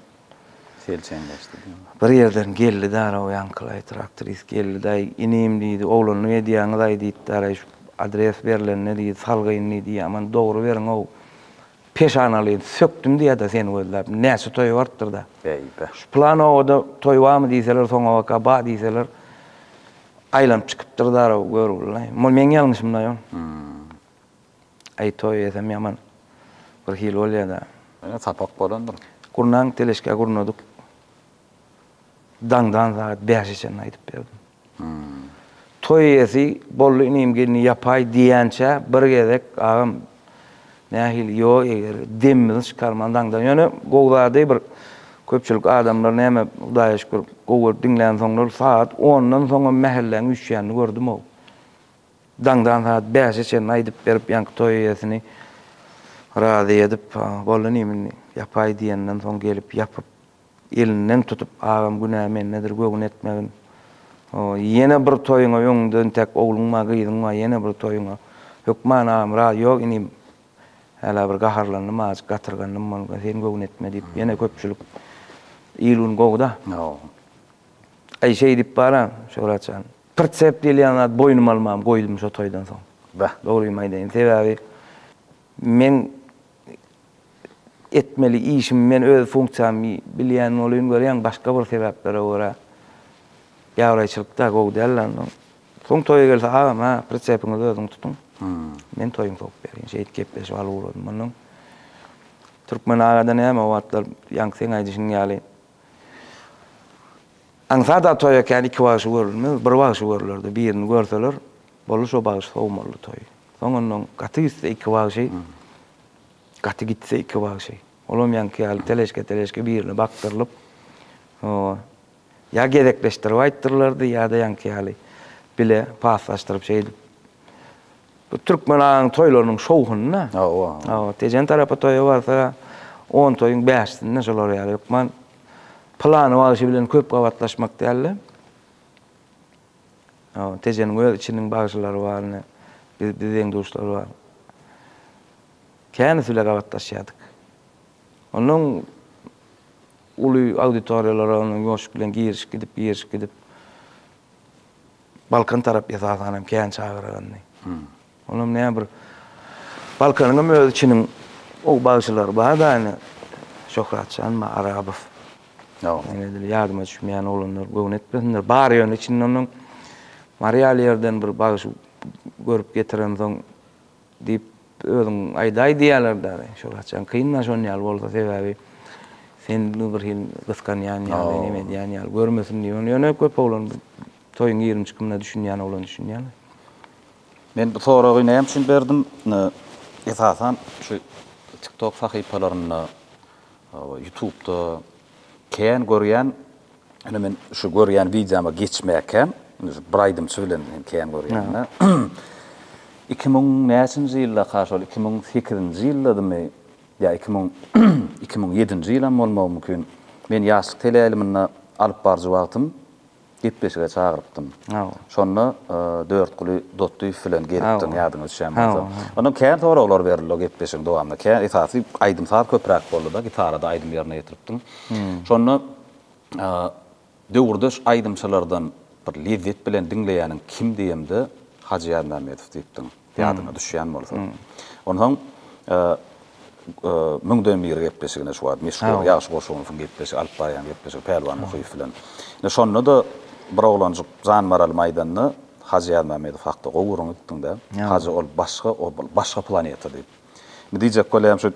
selçeňleşdi diýen. Bir ýerden geldi-de araw ýaňkylaý traktris geldi-daý inim diýdi oglanlyk edýäňizaý diýipdi araý şu adres berlende diýdi salgyn diýdi ýaman dogry beriňow peşanalyny sökdüm diýäda seni gözläp näçe toý bartdyrda şu plan obada toý barmy diýseler soňabaka bar diýseler Aýlanyp çykypdyr zaraw görgülilaý. Mol meň ýalňyşymlaý ol. Aý toý esem ýaman bir hili bolýada. Ýöne sapak bolandyr. Gurnaň teleşkä gurnadyk. Daňdan sagat bäşe çenli aýdyp berdim. Toý ýesi boldy inim gelni ýapaý diýýänçä bir gezek agam Nähili ýo eger demimizi çykarman daňdan ýöne gowy zady bir köpçülik adamlar näme hudaýa şükür gowy diňlän soňlar sagat ondan soňam mähelläň üýşýänini gördüm ow daňdan sagat bäşe çenli aýdyp berip ýaňky toý eýesini razy edip boldy nime indi ýapaý diýenden soň gelip ýapyp Elinden tutup, Agam, günä mendedir, göwün etmegin. O, ýene bir toýuňa öňüňde intäk ogluň bar, gyzyň bar, ýene bir toýuňa. Hökman agam, Raz, ýok, inim, hälä bir gaharlandym, azajyk gatyrgandym, bolmasa sen göwün etme diýip, ýene köpçülik, il-gün gowy-da. Aý, şeýdip baran, Şöwrat jan, pritsep diýilýän zat boýnuma almagym goýdum şo toýdan soň. Dogrymy aýdaýyn, sebäbi men etmeli işimi men öz funksiýamy bilýän bolyn görýän başga bir sebäplere görä ýabraýçylykda gowy däldi ondan soň toýa gelse agam ha pritsepinizi özüňiz tutuň men toýuňy sokup berýin şeýdip gepleşip alyp ugradym ondan türkmen agada näme o wagtlar ýaňky seň aýdyşyň ýaly aňsat a toýa kän iki bagşy görülmez bir bagşy görülerdi birini görseler Boldy şo bagşy sow boldy toý. Soň onnoň gaty gitse iki bagşy, gaty gitse iki bagşy. Olam ýaňky ýaly teleşke-teleşke birine bakdyrylyp, soň ýa gezekleşdirip aýtdyrlardy ýa-da ýaňky ýaly bile paslaşdyryp şeýdip. Bu türkmen aň toýlarynyň şowhuny-da. Hawa. Hawa, Tejen tarapa toýa barsa on toýuň bäşisinde şolar ýaly hökman pylany bagşy bilen köp gabatlaşmak däl-de. Tejeniň öz içiniň bagşylary bar ine. Biz biz deň-duşlar bar. Känesi bile gabatlaşýardyk. Onnoň uly auditoriýalara onuň ýoşup bilen girişip gidip, girişip gidip Balkan tarap esasanam kän çagyragandy. Olam ne bir Balkanyňam öz içiniň o bagşylary bar da ine Şöhratjan ma Arabow. Ýa ine dil ýadyma düşmeýän oglanlar göwni etmesinler. Bar ýöne içinde onuň Mariýaly ýerden bir bagşy görüp getirensoň diýip özüň aýdaý diýýärler däli. Şöhratjan kyn da şon ýaly bolsa sebäbi sen bir hil gysganýan ýaly neme edýän ýaly görmesin diýip ony ýöne köp oglan toýuň ýigrimi çykymyna düşünýän oglan düşünýär. Men bu soragy näme üçin berdim? Esasan şu tiktok sahypalarynda, ýutubda kän görýän, ine men şu görýän wideoma geçmäkäm, indi şu bir aýdymçy bilen men kän görýän-dä. Iki müň näçinji ýyldaka şol iki müň sekizinji ýyldadymy ýa iki müň iki müň ýedinji ýylam bolmagy mümkin, men ýaşlyk teleýaýlymynda alyp baryjy wagtym gepleşige çagyrypdym. Şonda Dörtguly Dotdyýew bilen gelipdiň, ýadyňa düşýän bolsa. Onda kän soraglar berildi o gepleşigiň dowamynda. Kän esasy aýdym-saz köpräk boldy-da, gitarada aýdym ýerine ýetiripdiň. Şonda döwürdeş aýdymçylardan bir lezzet bilen diňleýäniň kim diýemde, Hajy Ýazmämmedow diýipdiň. ýadyňa düşýän bolsa. Onsoň Müňden bir gepleşigine şu wagt meşhur Ýagşy Goşunowyň gepleşigi, alyp barýan gepleşigi Pälwan Muhyýew bilen. Ine, şonda-da bir oglanjyk jan maralymy aýdanda, Hajy Ýazmämmedow hakda gowy gürrüň etdiň-dä. Hajy ol başga, ol başga planeta diýip. Indi diýjek bolýan şu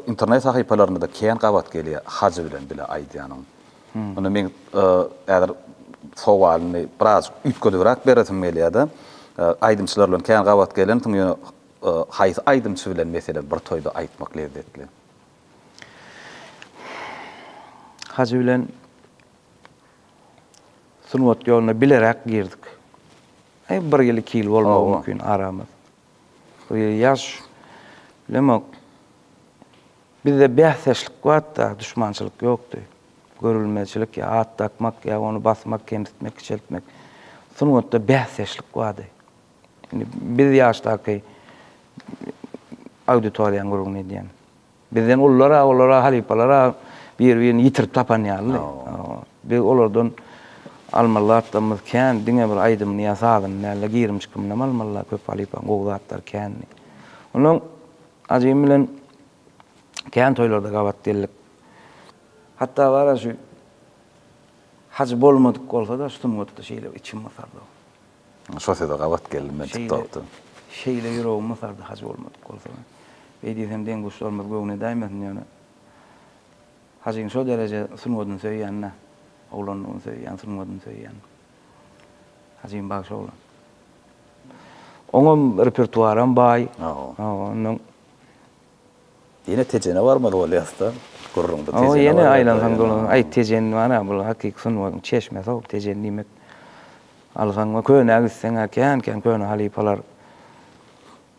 internet sahypalarynda-da kän gabat gelýär, Hajy bilen bile aýdýanyň. Indi men häzir sowalyny birazjyk üýtgedibräk beresim gelýär-de, aýdymçylar bilen kän gabat gelensiň, ýöne haýsy aýdymçy bilen meselem bir toýda aýtmak lezzetli? Hajy bilen sungat ýoluna bileräk girdik. Bir ýyl, iki ýyl bolmagy mümkin aramyz. Ýaş Lemok, Bizde bäsdeşlik wagtda duşmançylyk ýokdy. Görülmezçilik ýa at dakmak ýa ony basmak, kemsitmek, kiçeltmek. Sungatda bäsdeşlik bardy. Indi biz ýaşdaky auditoriýaň gürrüňini edýän. Bizden ulular-a, olar-a, halypalar-a bir-birini ýitirip tapan ýalydy. Biz olardan almaly zatlarymyz kän, diňe bir aýdymyny ýa sazyny däl-de, girim-çykymynam almaly-a köp halypanyň gowy zatlary kändi. Onsoň Ajy bilen kän toýlarda gabat geldik. Hatda bar-a şu Hajy bolmadyk bolsa-da, sungatda şeýle içim gysardy. Şo söze gabat geldim men TikTokda. Şeýle ýüregimi sardy haj bolmadyk bolsa. Beý diýsem deň-duşlarymyz göwne dämesin ýöne. Hajyň şo dereje sungadyny söýýänine, oglanlygyny söýýän, sungadyny söýýän. Hajym bagşy oglan. Oňam repertuaram baý. Hawa. Hawa, ondan Ýene Tejene barmaly bolýasda, gürrüňde Tejene barýar. O ýene aýlansaň dolansaň, aý Tejen bar-a, bul hakyky sungatyň çeşmesi-ow, Tejen diýmek. Alsaň we könä gitseň-ä kän-kän köne halypalar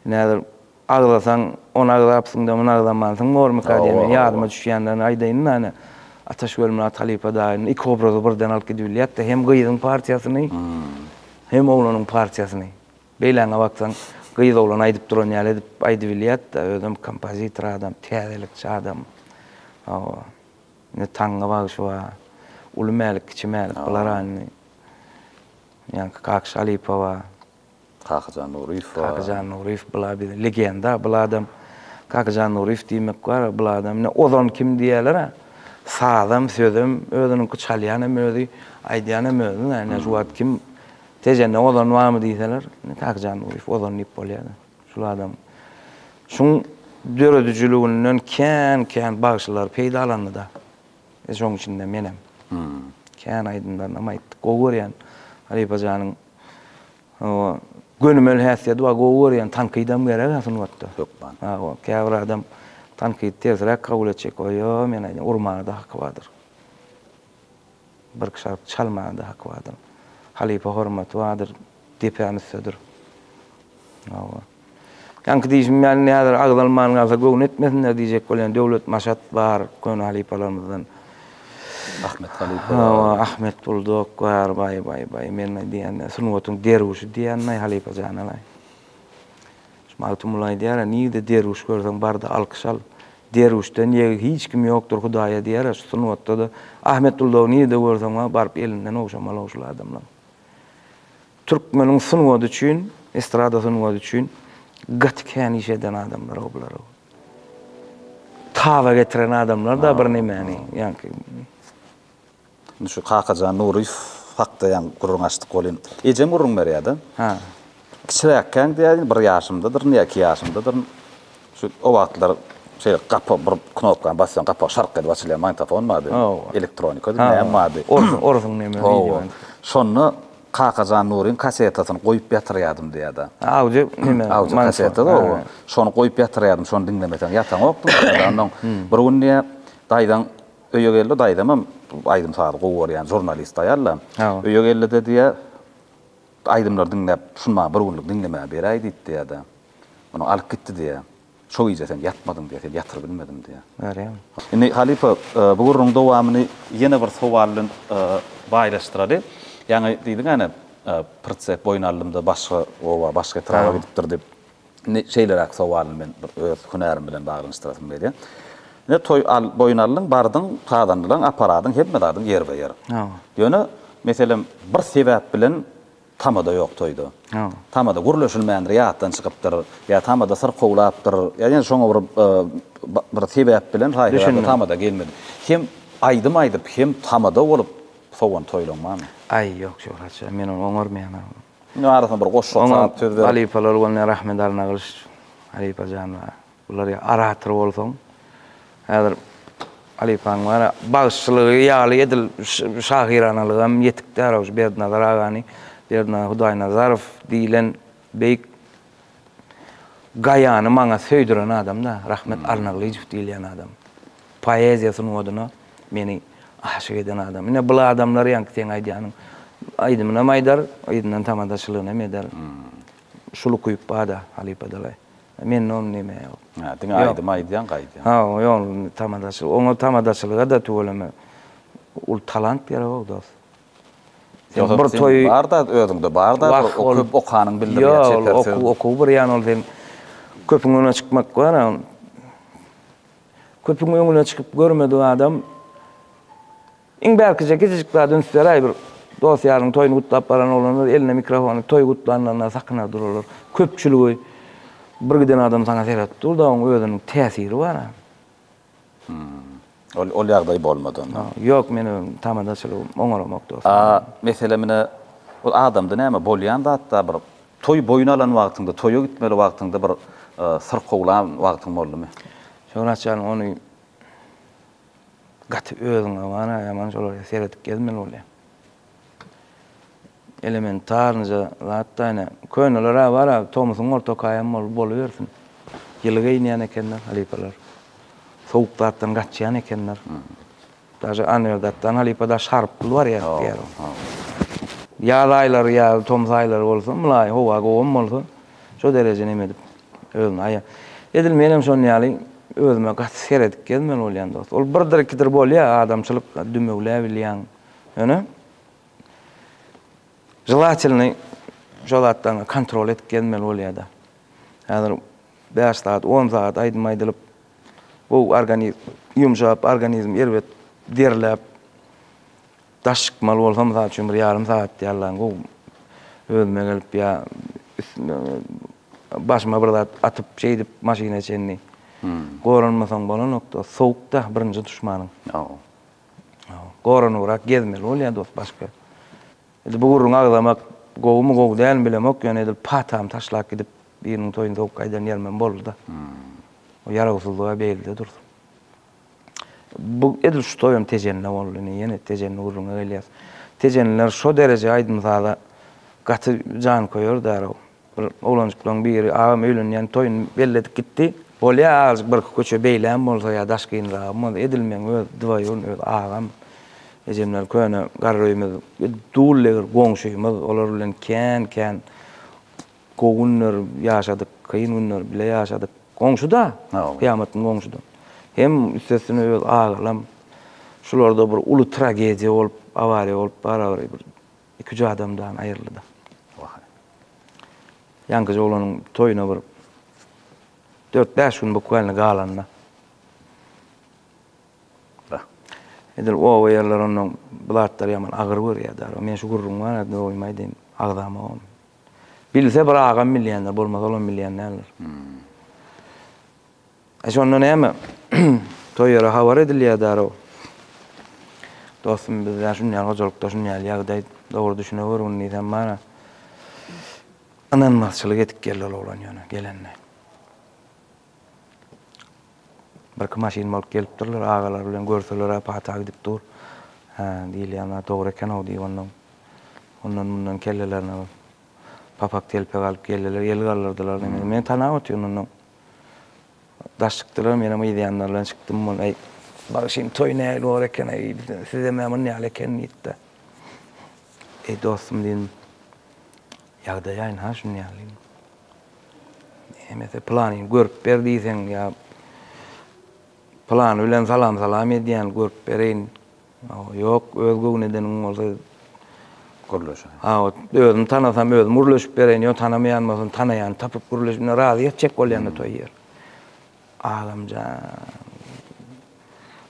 näder, agzasaň, ony agzapsyň-da, muny agzamansyň bormyka diýende ýadyma düşýänlerini aýdaýyn-da ine, Ataş Welmyrat halypa daýyny iki obrazy birden alyp gidibilýäs-de, hem gyzyň partiýasyny, hem oglanyň partiýasyny. Beýläňe baksaň, gyz-oglan aýdyp duran ýaly edip aýdybilýär-de, özem kompozitor adam, täzelikçi adam. Hawa. Indi taňňa bagşy bar. Uly Mälik, Kiçi Mälik bular-a indi. Ýaňky Kaky Şalypa bar. Kakyjan Nuryýew bar. Kakyjan Nuryýew bula biziň legenda. Bul adam Kakyjan Nuryýew diýmek bar-a, bul adam ine Ozan kim diýýärler-ä. Sazam, sözem özüniňki, çalýanam özi, aýdýanam özi-dä. Ine şu wagt kim Tejende ozan barmy diýseler, Kakjan Ulyýew ozan diýip bolýar-da. Şul adam şuň döredijiliginden kän-kän bagşylar peýdalandy-da. E, şoň içinde menem. Kän aýdymlaryny hem aýtdyk. Gowy görýän halypa janyň gönümel häsiýeti bar, gowy görýän. Tankydam gerek-ä sungatda. Hökman. Hawa, käbir adam tankydy tersiräk kabul etjek. O ýo, men aýdýan, urmaga-da haky bardyr. Bir kişi çalmanda haky bardyr. Halypa hormaty bardyr, depäm üstdedir. Hawa. Ýaňky diýşim ýaly indi häzir agzalman galsa göwni etmesinler diýjek bolýan Döwlet Maşat bar, köne halypalarymyzdan. Ahmet halypa bar. Hawa, Ahmet Buldok bar, baý, baý, baý, men diýen sungatyň derwüşi diýen halypa janalaý. Şu Magtymguly aýdýar-a, Nirde derwüş görseň, bar-da alkyş al. Derwüşden ýegi hiç kim ýokdur Hudaýa diýer-a, şu sungatda-da Ahmet Duldawy nirde görseň, wa, baryp elinden ogşa malog şul adamlaň. Türkmeniň sungady üçin, estrada sungady üçin gaty kän iş eden adamlar-ow bular-ow. Taba getiren adamlar-da birnemäni, ýaňky. Indi şu Kakajan Nuryýew hakda ýaňy gürrüň açdyk welin, ejem gürrüň berýär-de. Hä. Kiçiräkkäň diýýär, bir ýaşymdadyryn ýa iki ýaşymdadyryn, şu o wagtlar şeýle gapa bir knopkany basýaň, gapa şark edip açylýan magnitofon bardy, elektronikady, näme bardy. Orsuň neme wideo. Hawa. Şonda Kakajan Nuryň kasetasyny goýup ýatyrýardym diýýär-de. Audio neme. Audio kaseta, hawa. Şony goýup ýatyrýardym, şony diňlemeseň ýataňokdym. Onnoň bir gün diýýär, daýzaň Öýegeldi daýzamam aýdym-sazy gowy görýän žurnalist aýal-da. Öýegeldide diýýär, Aýdymlary diňläp, şuny maňa bir günlük diňlemäge beräý diýip diýýär-de. Muny alyp gitdi diýýär. Şo gije sen ýatmadyň diýýär, seni ýatyrybilmedim diýýär. Görýäňmi? Indi, halypa, bu gürrüňiň dowamyny ýene bir sowal bilen baýlaşdyraly. Ýaňy diýdiň-ä, ine, Prtsek boýun aldymda başga oba, başga etraba gidipdir diýip. Indi şeýleräk sowalyny men bir öz hünärim bilen baglanyşdyrasym gelýär. Ine, toý al, boýun aldyň, bardyň, sazandylaň, aparadyň, hemme zadyň ýerbe-ýer. Ýöne, meselem, bir sebäp bilen tamada ýok toýda. Tamada gürleşilmändir, ýatdan çykypdyr, ýa tamada syrkawlapdyr, ýa ýene şoňa bir bir sebäp bilen haýsy tamada gelmedi. Hem aýdym aýdyp, hem tamada bolup sowan toýlaň barmy? Aý, ýok, Şöhrat şa, men ony oňarmaýan agam. Munuň arasyna bir goşgy salyp söz ber. Halypalar bolanda Rahmet Arnagylyç halypa jan bar. Bular ýa orator bolsaň. Häzir halypaň bar a bagşylygy ýaly edil şahyranalygam hem ýetik däl-ow şu Berdinazar agany. Berdinazar Hudaýnazarow diýlen beýik Gaýany maňa söýdüren adam-da, Rahmet Alnaglyjow diýilýän adam. Poeziýa sungatyna meni aşyk eden adam. Ine, bul adamlar ýaňky seň aýdýanyň aýdymynam aýdar, yzyndan tamadaçylygynam eder. Şul ukyp bar-da, halypa dalaý. Mende ony näme ýok. Hä, diňe aýdym aýdýaň, gaýdýaň. Ha, ýok, tamadaçylyk. Oňa tamadaçylyga-da tüweleme uly talant geregok, dost. Ýogsa bir toý bar da özüňde bar da bir okup okanyň bildirýär çeper söz. Ýok okuw bir ýan ol sen köpüň öňüne çykmak bar a köpüň öňüne çykyp görmedik adam iň bärkije kiçijik zat ünsderaý bir dos ýaryň toýuny gutlap baran oglanlar eline mikrofony toý gutlanylanda sakynar duralar köpçüligi bir giden adam saňa seredip dur da oň özüniň täsiri bar a. Ol ol ýagdaý bolmady onda. Ýok, men öň tamadaçylygy oňaramok dostum. A, mesele menä ol adamda näme, bolýan zatda bir toý boýun alan wagtyňda, toýa gitmeli wagtyňda bir syrkawlan wagtyň boldumy? Şöhrat jan, ony gaty özüňe bana, ýaman şolara seredip gezmeli bolýaň. Elementarnyja zatda ine, köneler-ä bar-a, tomusyň ortakaýam bolup bolubersin. Ýyly geýinýän ekenler halypalar. Sowuk zatdan gaçýan ekenler. Daže Anwerdatdan halypa-da şarp pul barýar diýýärin. Ýaz aýlary ýa tomus aýlary bolsa, mylaýym, howa gowam bolsa, şo dereje neme edip, özüni aýa. Edil menem şonuň ýaly özüme gaty seredip gezmeli bolýan dost. Ol birdir-ikidir bolýa, adamçylyk, dümewläbilýäň. Ýöne Želatelni şo zatdan kontrol edip gezmeli bolýada. Häzir 5 saat, 10 saat aýdym aýdylyp, bu organizm ýumşap, organizm erbet derläp, daş çykmaly bolsa, mysal üçin, bir ýarym saat ýallaň gowy özüme gelip ýa başyma bir zat atyp, şeýdip maşyna çenli. Goranmasaň bolanokda, sowuk-da birinji duşmanyň. Goranybrak gezmeli bolýar dost başga. Edil bu gürrüňi agzamak gowumy gowy dälmi bilemok ýöne edil patamy taşlap gidip biriniň toýuny sogup gaýdan ýerimem boldyda. O ýarawsyzlyga beýlide dursun. Bu edil şu toýam tejenne boldy indi ýene tejenli gürrüňe gelýäs. Tejenliler şo dereje aýdym-saza gaty janköýer därow. Bir oglanjyklaň biri, Agam öýlenýän, toýuny belledik gitdi. Bolýa azajyk birki köçe beýläm bolsa ýa daşkynragam bolsa edilmeň öz dwaýun öz agam. Ejemler köne garryýmiz bir dullegir goňşymyz olar bilen kän kän gowy günler ýaşadyk kyn günler bile ýaşadyk. Goňşuda kyýamatyň goňşuda. Hem üstesine öz agalam şularda bir uly tragediýa bolup awariýa bolup barabary bir Iküç adamdan aýryldy-da. Wahaý. Ýaňkyja oglanyň toýuna bir dört-bäş gün bukwaýlny galanda. Ba. Edil oba ýerler onnoň bu zatlary ýaman agyr görýärdi. Men şu gürrüň bar ýa dogrymy aýdaýyn, agzamok ony. Bilse bir agam bilýändir, bolmasa olam bilýän däldir. E şonda näme? Toý ýere habar edilýär darrow. Dostum bizde şunýal hojalykda şunýal ýagdaý dogry düşüneweriň diýsem mana ynanmazçylyk edip geldi ol oglan ýöne gelende. Birki maşyn bolup gelipdirler agalar bilen görseler-ä pata gidip dur. Hä diýilýän zat dogry eken-ow diýip ondan ondan mundan kellelerine bir papak telpek alyp geldiler el galdyrdylar. Meni tanap otyr mundan Daş çykdylar, menem yz ýanlar bilen çykdym. Ol, Äý, bagşym, toý nähili bor eken, äý, sizem-ä munýaly eken diýip-de. Eý, dostum diýdim, ýagdaýaýn-ha şuny ýaly. Hemesi planyny görüp ber diýseň ýa plany bilen salam-salam edýän, görüp bereýin. Ýok, öz göwün edeniň bolsa gürleşe. Hawa, özüm tanasam özüm gürleşip bereýin, ýok tanamaýan bolsam tanaýany tapyp gürleşip, indi razy etjek bolýanda toý ýer. Agamjan.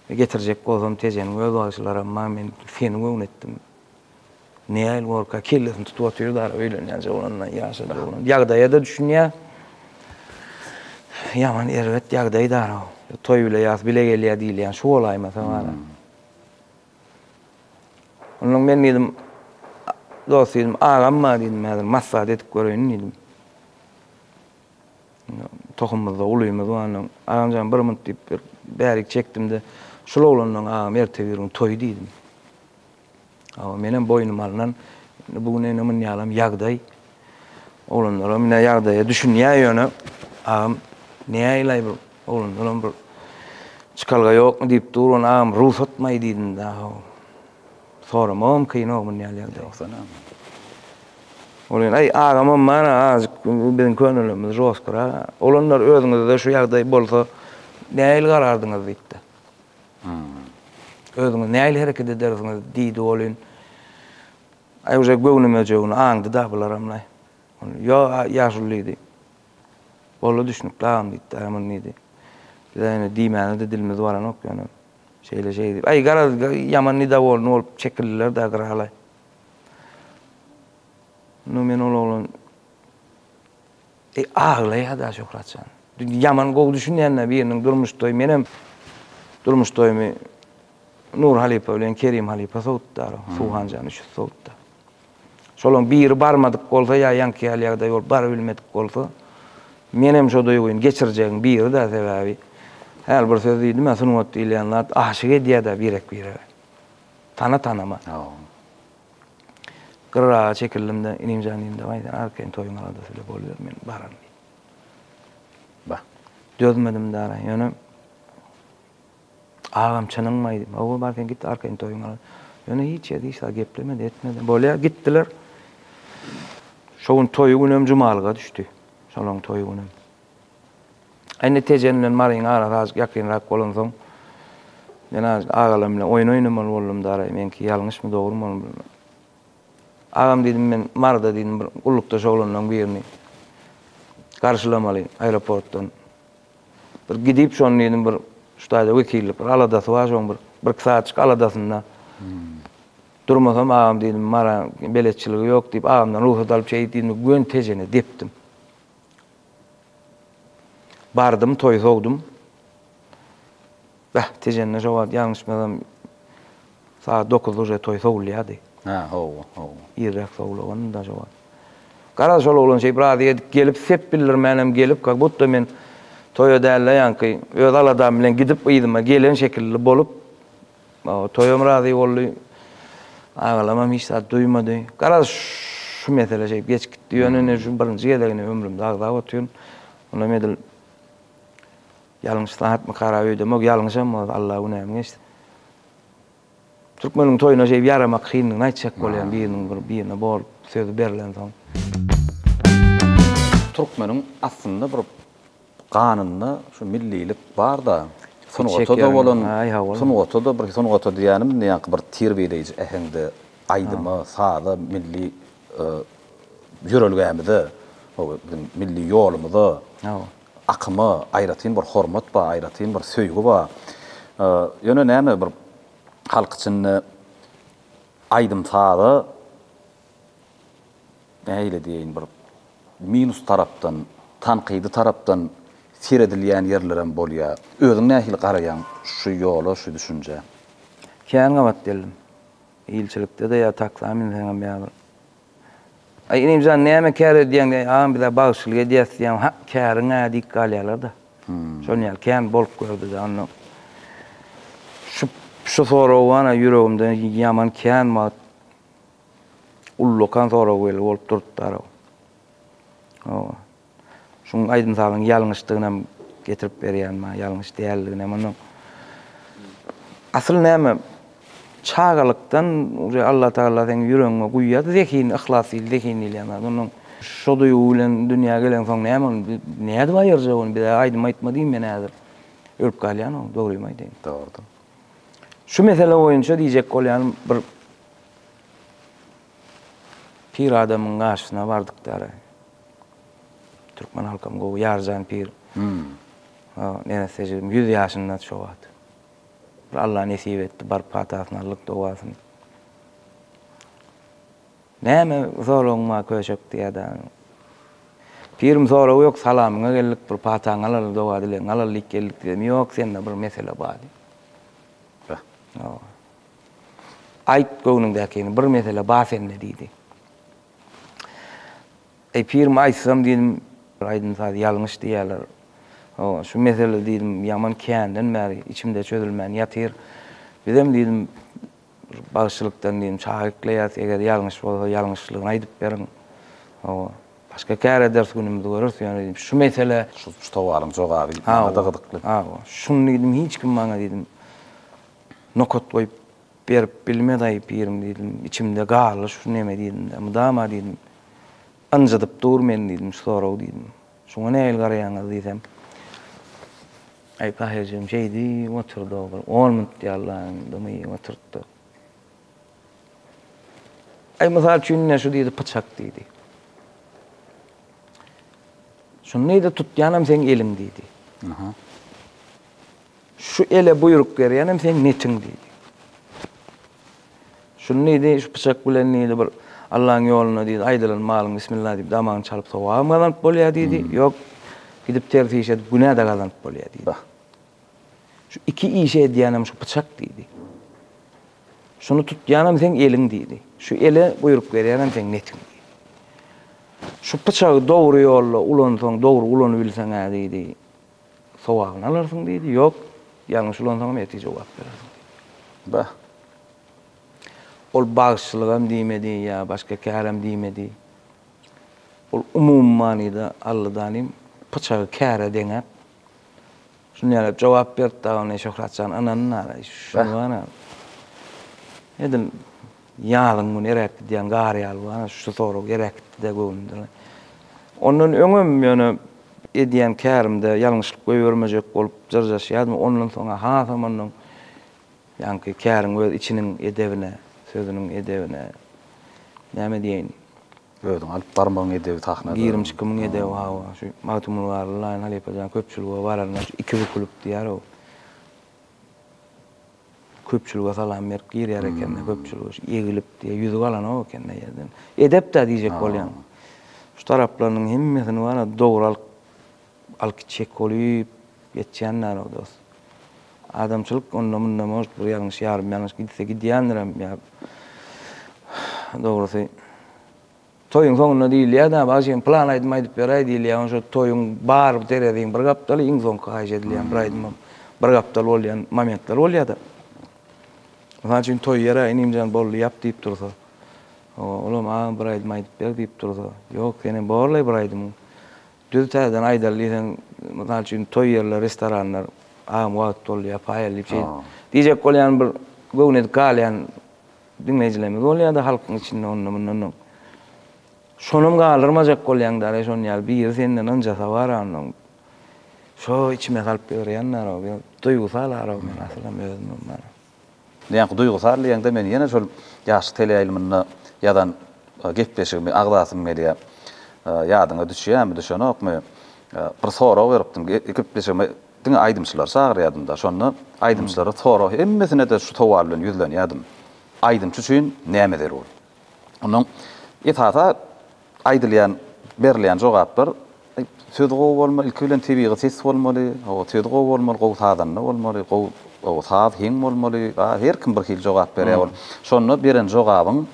Getirjek bolsam tejeniň öz bagşylaram bar, men seni göwün etdim. Neil Worka kellesini tutup otyr dar öýlenýän jowlandan ýaşa jowlan. Ýagdaýa da düşünýä. Ýaman erbet ýagdaý dar. Toý bile ýas bile gelýä diýilýän şu bolaýmasa bar. Hmm. Ondan men diýdim, dost diýdim, agam bar diýdim, häzir maslahat edip göreýin diýdim. Tohumymyzda ulymyz bar ondan. Agamjan bir minut diýip bir bärik çekdim-de, şul oglandan agam erteki gün toý diýdim. Hawa, menem boýnuma alnan, indi bu gün öňe münýälam ýagdaý. Oglanlaram ine ýagdaýa düşünýär ýöne, agam, näýlaý bir oglanlaram bir çykalga ýokmy diýip dur, ony agam rugsatmaý diýdim-de, haw. Soramagam kyn-ow muny ýaly ýagdaý ýogsana. Ol ýene, aý, agamam bar-a, azajyk biziň könelimiz žostkyrak-a. Oglanlar, özüňizde şu ýagdaý bolsa, nähili garardyňyz diýipdi. Özüňiz nähili hereket edersiňiz? diýdi welin, Aý, uje göwnüme-jöwni aňdy-da bularam-laý. Ýo-a, ýaşuly, diýdi. Boldy, düşnükli, agam, diýdi. Dämir diýdi. Biz-ä indi diýmäne-de dilimiz baranok ýöne, şeýle-şeý diýip. Aý, garaz, ýaman nidawolny bolup çekildiler-dä gyra-laý. Indi men ol oglan Eý aglaýada Şöhratjan. Ýaman gowy düşünýända biriniň durmuş toýy menem durmuş toýumy Nur halypa bilen Kerim halypa sowutdar Suwhanjan üç ýüz sowutda. Şolaň biri barmadyk bolsa ýa ýaňky ýaly ýagdaý bolup bary bilmedik bolsa menem şo duýgyny geçirjegiň birida sebäbi häli bir söz diýdimä sungat diýilýän zat aşyk edýäda birek birege. Tana tanama. Gyraga çekildim-de, Inimjan diýdim, Dawaý, sen arkaýyn toýuň aladasy bile boluber, men bararyn diýdim. Bah, dözmedim dara, ýöne Agam, çynyňmy aýdym? Hawa, bar sen git, arkaýyn toýuň aladasy. Ýöne hiç ýerde hiç zat geplemedi, etmedi. Bolýar, gitdiler. Şo gün toýy günem jumalyga düşdi. Şolaryň toýy günem. Indi Tejen bilen Maryň arasy azajyk ýakynrak bolansoň, men azajyk agalar bilen oýun oýnamaly boldum, daraý, meňki ýalňyşmy, dogrumy ony bilmän. Agam diýdim, men Maryda diýdim, bir gullukdaş oglanlaryň birini garşylamaly aeroportdan. Bir gidip, şony diýdim, bir şu taýda wekillik bir aladasy bar, şoň bir birki sagatjyk aladasynda durmasam, agam diýdim, Maryň beletçiligi ýok diýip, agamdan rugsat alyp şeýt diýdim-de, göni Tejene depdim. Bardym toýy sowdum. Bäh, Tejende şo wagt ýalňyşmasam sagat dokuzda uje toý sowulýardy. Hä, hawa, hawa. Irräk sowulagandy-da şo wagt. Garaz, şol oglan şeýdip razy edip gelip, sep bildirmänem gelip, kak budda men toýa däl-de ýaňky öz aladam bilen gidip yzyma gelen şekilli bolup, Toýam razy boldy. Agalamam hiç zat duýmady. Garaz, şu mesele şeýdip geçip gitdi. Ýöne indi şu birinji gezegine ömrümde agzap otyryn. Onam edil ýalňyş zatmy, harap öýdemok. Ýalňyşam bolsa, Alla günämi geçsin. Türkmeniň toýuna şeýdip ýaramak kyndygyny aýtjak bolýan biriniň bir birine bolup sözi berlensoň. Türkmeniň aslynda bir Ganynda şu millilik barda sungatada bolan sungatada bir sungata diýýänim indi ýaňky bir terbiýeleýji äheňde aýdyma saza milli ýörelgämize biziň milli ýolumyza akyma aýratyn bir hormat bar aýratyn bir söýgi bar ýöne näme bir halk içinde aýdym saza nähili diýeýin, bir minus tarapdan, tankydy tarapdan seredilýän ýerlerem bolýar. Özüň nähili garaýaň şu ýola, şu düşünjä? Kän gabat geldim. Ilçilikde-de ýa taksa münseňem ýa bir. Aý, inim jan, näme kär edýäň diýäýin. Agam, biz-ä bagşylyk edýäs diýýän. Hak, käriň-ä diýip galýarlar-da. Şonuň ýaly kän bolup gördi-de. Onda şu soragy, ana, ýüregimde ýaman kän wagt. Ullakan sorag weli bolup durupdar-ow. Hawa. Şuň aýdym-sazyň ýalňyşdygynam getirip berýän maňa, ýalňyş däldiginem. Onnoň asyl näme, çagalykdan uje Allatagala seň ýüregiňe guýýar zehin, yhlas diýil, zehin diýilýän zat. Onnoň şo duýgy bilen dünýä geleňsoň näme ony bi, nädip aýyrjak ony? Bir-ä aýdym aýtma diýiň, men häzir ölüp galýan-ow, dogrymy aýdaýyn. Dogrudyr. Şu mesele boýunça diýjek bolýanym, bir Pir adamyň garşysyna bardykdary. Türkmen halkam gowy, Ýarjan pir. O, neresse jigim, ýüz ýaşyndady şo wagt. Bir Alla nesip etdi, baryp patasyny aldyk, dogasyny. Näme soragyň bar köşek diýýärdi. Pirim sorag ýok, salamyňa geldik, bir pataňy alaly, doga-dilegiňi alaly diýip geldik diýdim. Ýok, sende bir mesele bar diýdi. Be. Hawa. Aýt göwnüňdäkini, bir mesele bar sende, diýdi. Eý, pirim, aýtsam, diýdim, bir aýdym-saz ýalňyş diýýärler. Hawa, şu mesele, diýdim, ýaman känden bäri içimde çözülmän ýatyr. Bizem, diýdim, bir bagşylykdan, diýdim, çaga ekleýäris, eger ýalňyş bolsa, ýalňyşlygyny aýdyp beriň. Hawa, başga kär ederis, günümizi göreris, ýöne, diýdim, şu mesele. Şu sowalyň jogaby maňada gyzykly. Hawa, şuny, diýdim, hiç kim maňa, diýdim. Nokat goýup berip bilmedaý pirim diýdim. Içimde garly şu neme diýdim-de, mydama diýdim. Ynjydyp dur meni diýdim şu sorag diýdim. Şuňa nähili garaýaňyz diýsem. Aý Tahirjigim şeýdi oturdy-ow bir on minut ýallaň dymy oturtdy. Aý mysal üçin ine şu diýdi pyçak diýdi. Şuny diýdi tutýanam seň eliň diýdi. Aha. Şu ele buýruk berýänem seň netiň diýdi. Şuny diýdi, şu pyçak bilen diýdi bir Allaň ýolunda diýdi, aýdylan malyň bismillah diýip damagyny çalyp sogabam gazanyp bolýar diýdi, ýok gidip ters iş edip günä-de gazanyp bolýar diýdi. Şu iki işi edýänem şu pyçak diýdi. Şuny tutýanam seň eliň diýdi. Şu ele buýruk berýänem seň netiň diýdi. Şu pyçagy dogry ýolda ulansaň, dogry ulanybilseň-ä diýdi. Sogabyny alarsyň diýdi. Ýok, ýalňyş ulansaňam ertir jogap berersiň diýdi. Bah! Ol bagşylygam diýmedi ýa başga kärim diýmedi. Ol umumy manyda Alladanym pyçagy käre deňäp, şuny ýaly jogap berdi dagyny Şöhratjan ynanyn ara, şuny bar-a. Edil Ýazyň güni eräp gidýän gar ýaly bu, ana, şu sorag eräp gitdi-de göwnümden. Ondan öňem ýöne edýän kärimde ýalňyşlyk goýbermejek bolup jyrjaşýardym, ondan soň-a hasam ondan ýaňky käriň öz içiniň edebine, sözüniň edebine, näme diýeýin, Özüňi alyp barmagyň edebi sahnada. Girim-çykymyň edebi, hawa, şu Magtymguly Garly, Laýyn halypa jan köpçülige baranda şu iki bükülip diýýär-ow. Köpçülige salam berip girýär ekende köpçülige şu egilip diýe ýüzük alanok ekende ýerden. Edepdä diýjek bolýan. Şu taraplarynyň hemmesini bara dogry alyp alyp gitjek bolyp ýetýänlerok dos. Adamçylyk onda munda может bir ýalňyş ýarym ýalňyş gitse gidýändirem ýa dogrusy. Toýuň soňunda diýilýär-dä, Bagşym, pylan aýdym aýdyp beräý diýilýär. Onuň üçin toýuň bar tereziň bir gapdaly iň soňky haýyş edilýän bir aýdymam bir gapdal bolýan momentler bolýar-da. Mysal üçin, toý ýeri, Inimjan, boldy, ýap diýip dursa, olam, Agam, bir aýdym aýdyp ber diýip dursa, Ýok, senem borlaý bir aýdymyň. Düz täzeden aýdaly diýseň, mysal üçin, toý ýerleri, restoranlar, Agam, wagt boldy, ýapaýaly diýip, şeýdip diýjek bolýan bir göwnedik galýan Diňleýjilerimiz bolýa-da halkyň içinde onda-mundanam. Şonam galdyrmajak bolýaň däl-ä şon ýaly biri senden ynjasa bar onnoň. Şo içime salyp ýörýän däl-ow ýa duýgusal araw men asylam özümem bana. Näme duýgusal diýeňde men ýene şol ýaşlyk teleýaýlymynda ýazan gepleşigimi agzasym gelýä. Ýadyňa düşýämi, düşenokmy? Bir sorag beripdiň. Gepleşigime Diňe aýdymçylary çagyrýardym-da, şonda aýdymçylara sorag, hemmesine-de şu sowal bilen ýüzlenýärdim, Aýdymçy üçin näme zerur? Onda esasy aýdylýan, berilýän jogaplar, Söz gowy bolmaly, ilki bilen tebigy ses bolmaly, hawa, söz gowy bolmaly, gowy sazanda bolmaly, gowy, hawa, saz heň bolmaly, a, her kim bir hili jogap berýär ol. Şonda beren jogabyň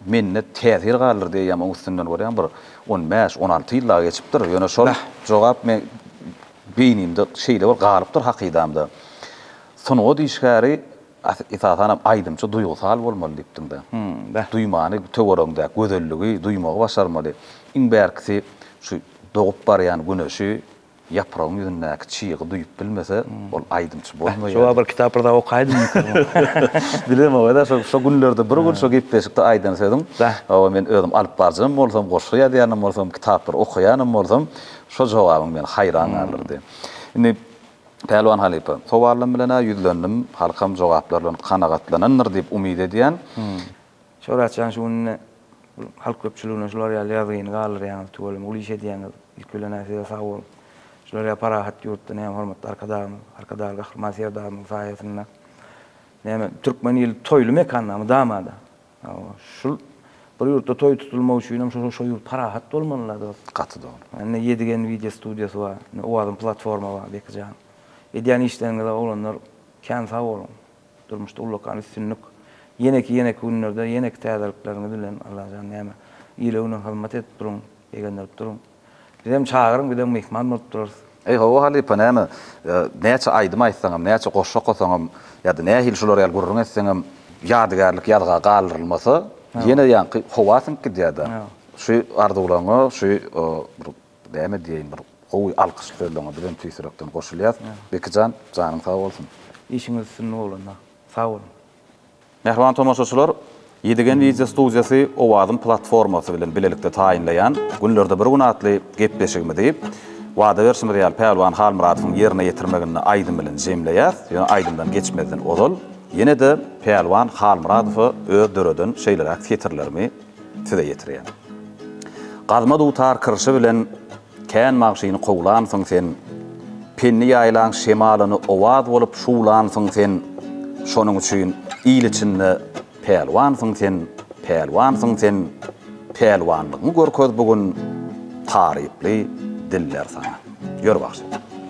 mende täsir galdyrdy eýýäm oň üstünden görýäň bir on bäş, on alty ýyl dagy geçipdir, ýöne şol jogap men, Beýnimde şeýle bir galypdyr hakydamda, Sungat işgäri, esasanam aýdymçy duýgusal bolmaly diýipdiň-dä. Hum-da. Duýmany töweregiňdäki gözelligi duýmagy başarmaly. Iň bärkisi şu dogup barýan güneşi, ýapragyň ýüzündäki çygy duýup bilmese, ol aýdymçy bolmaýar. Şo wagt bir kitap bir zat okaýdymyka? Bilemok-da, şo günlerde bir gün şo gepleşikde aýdan sözüň, hawa men özüm alypbaryjam bolsam, goşgy ýazýanam bolsam, kitaplary okaýanam bolsam, Şo jogabyň meni haýran galdyrdy. Indi, Pälwan halypa, sowalym bilen-ä ýüzlendim, halkam jogaplar bilen kanagatlanandyr diýip umyt edýän. Şöhrat jan, şu günde halk köpçüligine şular ýaly ýazgyny galdyrýaňyz, tüweleme uly iş edýäňiz. Ilki bilen-ä size sag boluň. Şular ýaly parahat ýurtda näme hormatly Arkadagymyz, Arkadagly Gahryman Serdarymyzyň saýasynda, näme, türkmen ili toýly mekanda mydama-da, Hawa, şul bir ýurtda toý tutulmak üçinem şo şo ýurt parahat bolmaly la dost. Gaty dogry. Indi Ýedigen wideo studiýasy bar, indi Owazyn platforma bar Beki jan. Edýän işleriňize oglanlar kän sag boluň. Durmuşda ullakan üstünlik. Ýeneki ýeneki günlerde ýeneki täzelikleriňiz bilen Allajan näme ile-güne hyzmat edip duruň, begendirip duruň. Bizem çagyryň bizem myhman bolup durarys. Eý hawa halypa näme näçe aýdym aýtsaňam näçe goşgy okasaňam ýada nähili şular ýaly gürrüň etseňem ýadygärlik ýazga galdyrylmasa ýene ýaňky howa siňip gidýärda şu arzuwlaryňa şu bir näme diýeýin bir gowy alkyşly sözleriňe bizem tüýs ýürekden goşulýas Bekijan janyň sag bolsun. Işiňiz üstünlik oglanlar. Sag boluň. Mähriban tomaşaçylar, Ýedigen wideo studiýasy Owazym platformasy bilen bilelikde taýynlaýan Günlerde bir gün atly gepleşigimizi, wada berşimiz ýaly, Pälwan Halmyradowyň ýerine ýetirmeginde aýdym bilen jemleýäs. Ýöne aýdymdan geçmezden ozal, ýene-de Pälwan Halmyradowa öz döreden şeýleräk setirlerimi size ýetirýän. Gazma dutar kirşi bilen Kän magşyny kowlansyň sen, Penni ýaýlaň şemalyny owaz bolup şuwlansyň sen, Şonuň üçin il içinde pälwansyň sen, pälwansyň sen, Pälwanlygyňy görkez bu gün, taryply diller saňa. Ýör bagşy.